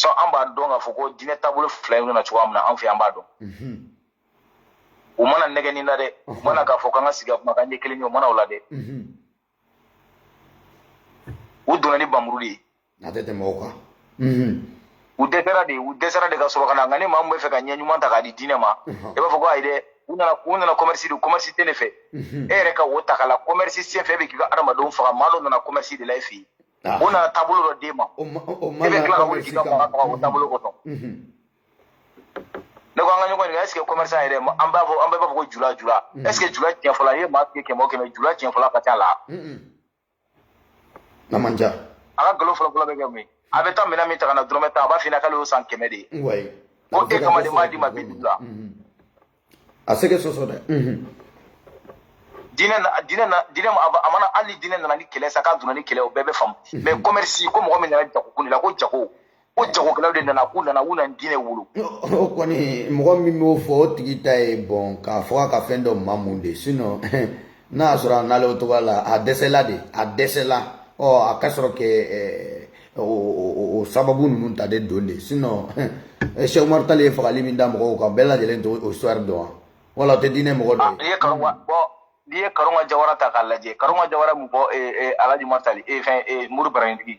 sɔn an b'a dɔn k'a fɔ ko diinɛ taabolo fila in nana cogoya min na an fɛ an b'a dɔn mhm. u ma na nɛgɛnni la dɛ u mhm. ma na k'a fɔ k'an ka sigi ka kuma k'an ɲɛ kelen ye u ma na o la dɛ mhm. u donna ni bamuru de ye a tɛ tɛmɛ o kan u dɛsɛra de u dɛsɛra de ka sɔrɔ ka na nka ni maa min bɛ fɛ ka ɲɛ ɲuman ta k'a di diinɛ ma i b'a fɔ ko ayi dɛ u nana u nana kɔmɛrisi de kɔmɛrisi tɛ ne fɛ e yɛrɛ ka o ta k'a la kɔmɛrisi senfɛ e bɛ k'i ka adamadenw faga maa dɔ nana kɔmɛrisi de la e fɛ yen Ah. o nana taabolo dɔ d'e ma e bɛ tila ka wuli k'i ka mɔgɔ faga o taabolo kɔnɔ ne ko an ka ɲɔgɔn ɲininka est ce que commerçant yɛrɛ an b'a fɔ an bɛɛ b'a fɔ ko jula jula est ce que jula tiɲɛfɔla i ye maa tigɛ kɛmɛ o kɛmɛ jula tiɲɛfɔla ka ca la n'a man ca a ka nkalon fɔlɔ fɔlɔ bɛ kɛ mun ye a bɛ taa minɛn min ta ka na dɔrɔmɛ tan a b'a f'i ɲɛna k'ale y'o san kɛmɛ de ye ko e kama de m'a d'i ma bi duuru la a se ka sɔsɔ dɛ diinɛ na diinɛ na diinɛ ma a ma na hali ni diinɛ nana ni kɛlɛ sa k'a donna ni kɛlɛ o bɛɛ bɛ faamu mais kɔmɛrisi ko mɔgɔ min nana jago kun de la ko jago ko jagokɛlaw de nana k'u nana u nana diinɛ wolo o kɔni mɔgɔ min b'o fɔ o tigi ta ye bon k'a fɔ a ka fɛn dɔ mamu de sinon n'a y'a sɔrɔ a nalen o cogoya la a dɛsɛla de a dɛsɛla ɔ a ka sɔrɔ kɛ o sababu ninnu ta de don de sinon sɛku umaru tali ye fagali min da mɔgɔw kan bɛɛ lajɛlen tɛ o histoire dɔn wa wala o tɛ diinɛ mɔgɔ dɔ ye n'i ye karunga jawara ta k'a lajɛ karunga jawara mun fɔ alaji umaru tali fɛn mori marifatigi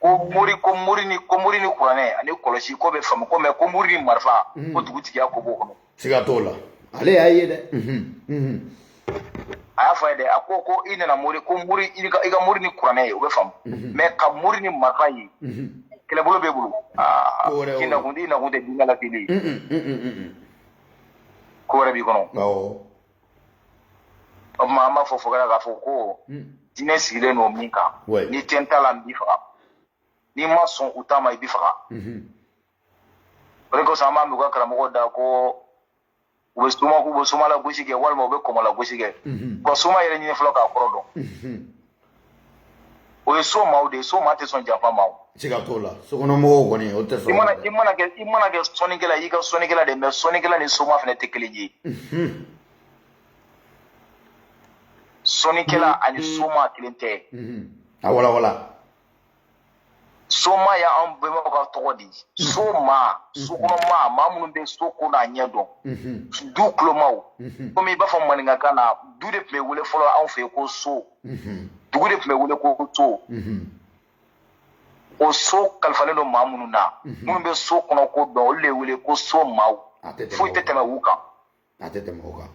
ko mori ko mori ni ko mori ni kuranɛ ani kɔlɔsi k'o bɛ faamu ko mais ko mori ni marifa mhm. ko dugutigiya ko b'o kɔnɔ siga t'o la ale y'a ye dɛ mhm, mhm. a y'a fɔ a ye dɛ a ko ko i nana mori ko mori i ka i ka mori ni kuranɛ ye o bɛ faamu mais ka mori ni marifa ye kɛlɛbolo b'e bolo aa k'i nakun i nakun tɛ diinɛ la kelen ye ko wɛrɛ b'i kɔnɔ o tuma an b'a fɔ fɔkala k'a fɔ ko diinɛ sigilen don min kan n'i tɛ n ta la n b'i faga n'i ma sɔn u ta ma i b'i faga o de kosɔn an b'a mɛn u ka karamɔgɔw da ko u bɛ soma u bɛ somala gosi kɛ walima u bɛ kɔmɔla gosi kɛ u ka soma yɛrɛ ɲini fɔlɔ k'a kɔrɔ dɔn o ye so maaw de ye so maa tɛ sɔn janfa ma o siga t'o la sokɔnɔmɔgɔw kɔni o tɛ sɔn i mana i mana kɛ i mana kɛ sɔnnikɛla y'i ka sɔnnikɛla de mais sɔnnikɛla ni soma fana tɛ kelen ye sɔnnikɛla ani soma kelen tɛ a walawala soma y' anw bɛnbaw ka tɔgɔ di so maa sokɔnɔma maa minnu bɛ so ko n'a ɲɛ dɔn du kolomaw komi i b'a fɔ maninkakan na du de tun bɛ wele fɔlɔ anw fɛ yen ko so dugu de tun bɛ wele ko so o so kalifalen don maa minnu na minnu bɛ so kɔnɔ ko dɔn olu de wele ko so maaw foyi tɛ tɛmɛ u kan a tɛ tɛmɛ o kan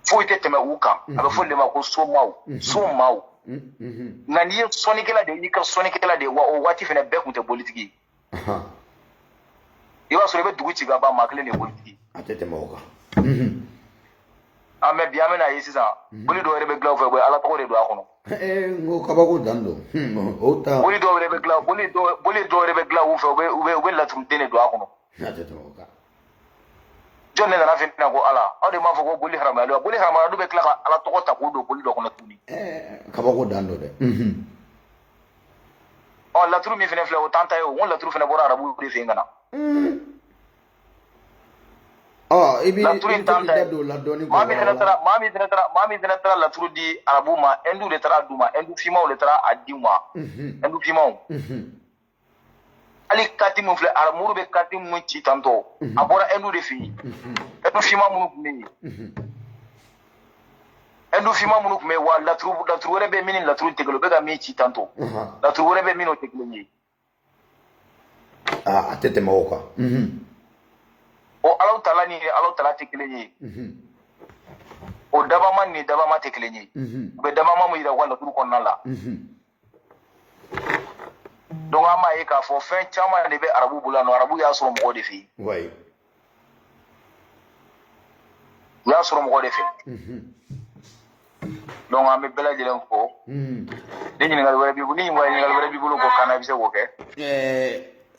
foyi tɛ tɛmɛ u kan a bɛ f'o de ma ko somaw somaw nka n'i ye sɔnnikɛla de y'i ka sɔnnikɛla de ye wa o waati fana bɛɛ tun tɛ bolitigi i b'a sɔrɔ i bɛ dugu ci ka ban maa kelen de ye bolitigi a tɛ tɛmɛ o kan an bɛ bi an bɛna a ye sisan boli dɔw yɛrɛ bɛ dilan u fɛ u bɛ ala tɔgɔ de don a kɔnɔ n ko kabako dan don o ta boli dɔw yɛrɛ bɛ dilan boli dɔw yɛrɛ bɛ dilan u fɛ u bɛ u bɛ laturuden de don a kɔnɔ a tɛ tɛmɛ o kan jɔn ne nana fɛ na ko ala aw de m'a fɔ ko boli haramuyalen wa boli haramuyalen u bɛ tila ka ala tɔgɔ ta k'o don boli dɔ kɔnɔ tuguni kabako dan don dɛ ɔ laturu min fana filɛ o t'an ta ye o n ko laturu fana bɔra arabuw de fɛ yen ka na ɔ i bɛ laturu in t'an ta ye don la dɔɔni maa min fana taara maa min fana taara maa min fana taara laturu di arabuw ma ɛndu de taara a d'u ma ɛndu fimaw de taara a di u ma ɛndu fimaw hali kati min filɛ aramuru bɛ kati min ci tantɔ a bɔra ɛndu de fɛ yen ɛndu finma minnu tun bɛ yen ɛndu finma minnu tun bɛ yen wa laturu laturu wɛrɛ bɛ min ni laturu tɛ kelen u bɛ ka min ci tantɔ laturu wɛrɛ bɛ min o tɛ kelen ye. a tɛ tɛmɛ o kan. o alahu taala ni alahu taala tɛ kelen ye. o dabama ni dabama tɛ kelen ye. u bɛ dabama min yira u ka laturu kɔnɔna la. donc an b'a ye k'a fɔ fɛn caman de bɛ arabu bolo yan nɔ arabu y'a sɔrɔ mɔgɔ de fɛ yen u y'a sɔrɔ mɔgɔ de fɛ donc an bɛ bɛɛ lajɛlen fo ni ɲininkali wɛrɛ b'i bolo ni ɲininkali wɛrɛ b'i bolo k'o kan na i bɛ se k'o kɛ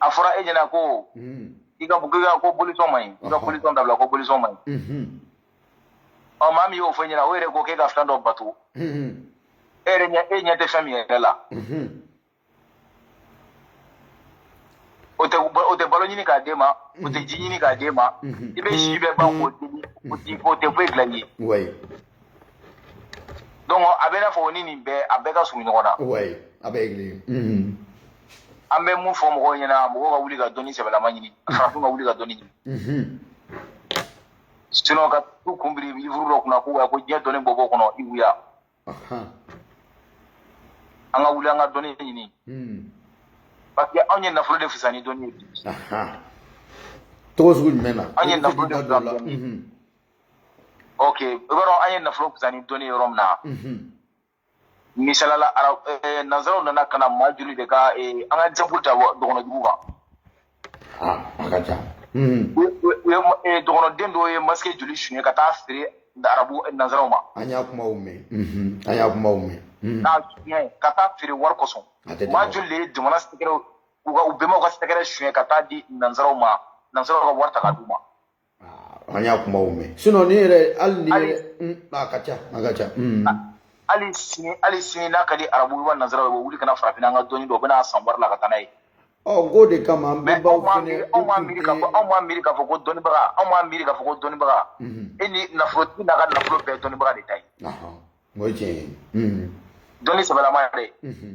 a fɔra e ɲɛna ko i ka ka ko bolisɔn man ɲi i ka bolisɔn dabila ko bolisɔn man ɲi ɔ maa min y'o fɔ i ɲɛna o yɛrɛ ko k'e ka fɛn dɔ bato e yɛrɛ ɲɛ e ɲɛ tɛ fɛn min yɛrɛ la o tɛ o tɛ balo ɲini k'a d'e ma o tɛ ji ɲini k'a d'e ma i bɛ si bɛɛ ban k'o deli o tɛ foyi dilan i ye donc a bɛ n'a fɔ o ni nin bɛɛ a bɛɛ ka surun ɲɔgɔn na. wayi a bɛɛ ye kelen ye. Mhm. an bɛ mun fɔ mɔgɔw ɲɛna mɔgɔw ka wuli ka dɔnni sɛbɛlama ɲini mhm. farafin ka wuli ka dɔnni ɲini. Mhm. sinon ka t'u kun biri livuru dɔ kunna ko wa ko diɲɛ dɔnni bɛ b'o kɔnɔ i wuya. an ka wuli an ka dɔnni ɲini. parce que anw ye nafolo de fisa ni dɔnni ye bi. cogo sugu jumɛn na. anw ye nafolo de fisa ni dɔnni ye. ok i b'a dɔn an ye nafolo fisa ni dɔnni ye yɔrɔ min na misalala ara eh, nanzaraw nana ka na maa joli de ka eh, an ka exemple ta wa- dɔgɔnɔdugu kan Ah, a ka ca. Mhm. U- u- u ye ma- eh, dɔgɔnɔden dɔw ye masque joli suɲɛ ka taa feere arabu eh, nanzaraw ma An y'a kumaw mɛn. Mhm. An y'a kumaw mɛn. Mhm. k'a suɲɛ ka taa feere wari kosɔn A tɛ tɛmɛ. maa joli de ye jamana secrets u ka u bɛnbaw ka secret suɲɛ ka taa di nanzaraw ma nanzaraw ka wari ta ka d'u ma an y'a kumaw mɛn sinon ni yɛrɛ hali ni yɛrɛ mm, a ka ca a ka ca mm. hali sini hali sini n'a ka di arabu wa nanzara u bɛ wuli ka na farafinna an ka dɔnni dɔ u bɛn'a san wari la ka taa n'a ye ɔ k'o de kama an bɛnbaw fɛnɛ anw m'a miiri k'a fɔ anw m'a miiri k'a fɔ ko dɔnnibaga anw m'a miiri k'a fɔ ko dɔnnibaga mm-hmm. e ni nafolotigi n'a ka nafolo bɛɛ ye dɔnnibaga de ta ye o ye tiɲɛ ye mm-hmm. dɔnni sɛbɛlama yɛrɛ mm-hmm.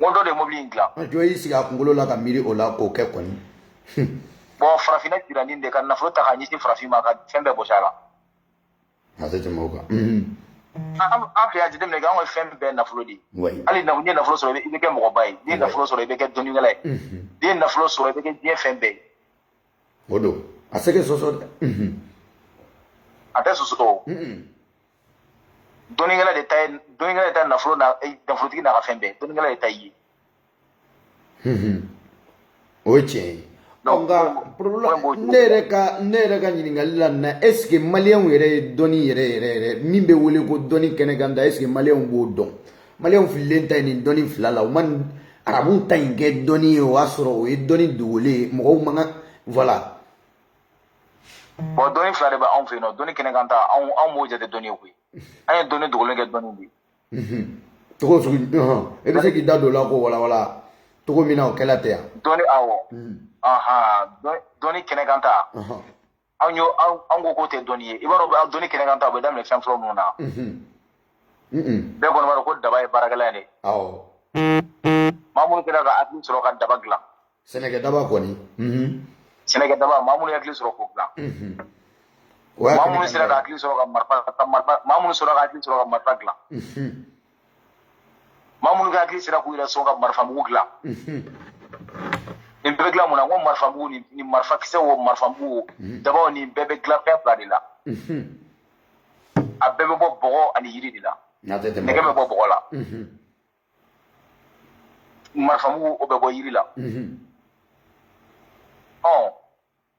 n ko dɔ de ye mobili in dilan dɔ y'i sigi a kunkolo la ka miiri o la k'o kɛ kɔni bon farafinna jiranin de ka nafolo ta k'a ɲɛsin farafin ma ka fɛn bɛɛ bɔsi a la a tɛ tɛmɛ o kan an fɛ yan jateminɛ kɛ an ka fɛn bɛɛ nafolo de ye hali n'i ye nafolo sɔrɔ i bɛ kɛ mɔgɔba ye n'i ye nafolo sɔrɔ i bɛ kɛ dɔnnikɛla ye n'i ye nafolo sɔrɔ i bɛ kɛ diɲɛ fɛn bɛɛ ye o don a tɛ se ka sɔsɔ dɛ a tɛ sɔsɔ dɔnnikɛla de ta ye dɔnnikɛla de ta nafolo na eh, nafolotigi n'a ka fɛn bɛɛ dɔnnikɛla de ta ye o ye tiɲɛ ye Donc, nka problème problème b'o ne yɛrɛ ka ne yɛrɛ ka ɲininkali la na est ce que maliyɛnw yɛrɛ ye dɔnni yɛrɛ yɛrɛ yɛrɛ min bɛ wele ko dɔnni kɛnɛ kan ta est ce que maliyɛnw b'o dɔn maliyɛnw fililen ta ye nin dɔnni fila la u ma nin arabuw ta in kɛ dɔnni ye o y'a sɔrɔ o ye dɔnni dogolen ye mɔgɔw man kan voilà bon dɔnni fila de bɛ anw fɛ yen nɔ dɔnni kɛnɛ kan ta anw anw m'o jate dɔnni ye koyi an ye dɔnni dogolen kɛ dɔnni ye cogo sugu e bɛ se k'i da don o la k'o walawala cogo min na o kɛla tɛ yan dɔnni awɔ dɔnni kɛnɛ kan ta anw yo anw ko k'o tɛ dɔnni ye i b'a dɔn dɔnni kɛnɛ kan ta o bɛ daminɛ fɛn fɔlɔ minnu na bɛɛ kɔni b'a dɔn ko daba ye baarakɛlan ye dɛ awɔ maa minnu kɛra ka hakili sɔrɔ ka daba dilan sɛnɛkɛ daba kɔni sɛnɛkɛ daba maa minnu hakili sɔrɔ k'o dilan maa minnu sera ka hakili sɔrɔ ka marifa maa minnu sɔrɔ ka hakili sɔrɔ ka marifa dilan maa minnu ka hakili sera k'u yɛrɛ sɔn ka marifa mugu dilan nin bɛɛ bɛ dilan mun na n ko marifa mugu ni marifa kisɛ wo marifa mugu wo daba wo nin bɛɛ bɛ dilan fɛn fila de la a bɛɛ bɛ bɔ bɔgɔ ani yiri de la nɛgɛ bɛ bɔ bɔgɔ la marifa mugu o bɛ bɔ yiri la mhm. ɔ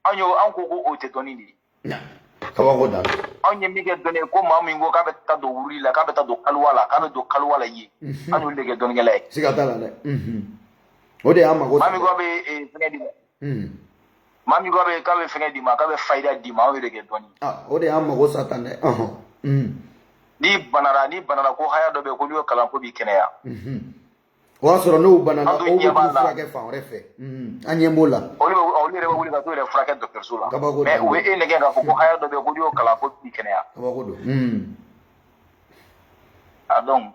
an y'o an ko ko o tɛ dɔnni de ye kabako don anw ye min kɛ dɔnni ye ko maa min ko k'a bɛ taa don wurudi la k'a bɛ taa don kaliwa la k'a bɛ don kaliwa la yen mhm. an y'olu de kɛ dɔnnikɛla ye siga t'a la dɛ mhm. o de y'an mago maa min ko a bɛ eh, fɛngɛ di Hmm. maa min k'a bɛ k'a bɛ fɛngɛ d'i ma k'a bɛ fayida d'i ma an y'o de kɛ dɔnni. Ah, o de y'an mago sa tan dɛ. Hmm. n'i banara n'i banara ko haya dɔ bɛ yen ko n'i y'o kalan k'o b'i kɛnɛya. Hmm. o y'a sɔrɔ n'u banana u bɛ t'u furakɛ fan wɛrɛ fɛ an ɲɛ b'o la. olu bɛ olu yɛrɛ bɛ wuli ka t'u yɛrɛ furakɛ dɔgɔtɔrɔso la. kabako don mais u bɛ e nɛgɛn k'a fɔ ko haya dɔ bɛ yen ko n'i y'o kalan k'o b'i kɛnɛya. kabako don. a donc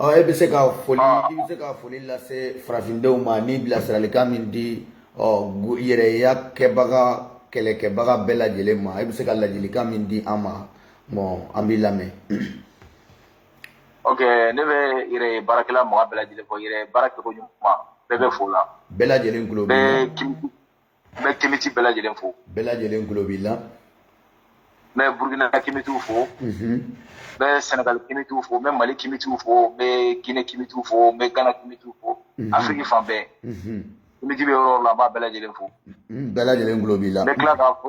ɔ e bɛ se ka foli ah. i bɛ se ka foli lase farafindenw ma ni bilasiralikan min di ɔ yɛrɛya kɛbaga kɛlɛkɛbaga bɛɛ lajɛlen ma e bɛ se ka ladilikan min di an ma bon an b'i lamɛn. ok ne bɛ yɛrɛ baarakɛla mɔgɔ bɛɛ lajɛlen fo yɛrɛ baara kɛko ɲuman bɛɛ bɛ fo la. bɛɛ lajɛlen tulo b'i la. n bɛ kemiti bɛɛ lajɛlen fo bɛɛ lajɛlen tulo b'i la n bɛ burukina kemitiw fo n bɛ sɛnɛgali kemitiw fo n bɛ mali kemitiw fo n bɛ gine kemitiw fo n bɛ gana kemitiw fo afiriki fan bɛɛ kemiti bɛ yɔrɔ la n b'a bɛɛ lajɛlen fo bɛɛ lajɛlen tulo b'i la n bɛ tila k'a fo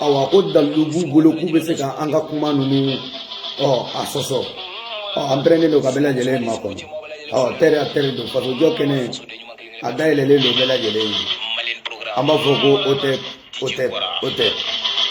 awa ko dalilu b'u bolo k'u bɛ se ka an ka kuma ninnu ɔ a sɔsɔ ɔ an pɛrɛlen don ka bɛɛ lajɛlen makɔnɔ ɔ terre à terre don fasojɔ kɛnɛ a dayɛlɛlen don bɛɛ lajɛlen ye an b'a fɔ ko o tɛ o tɛ o tɛ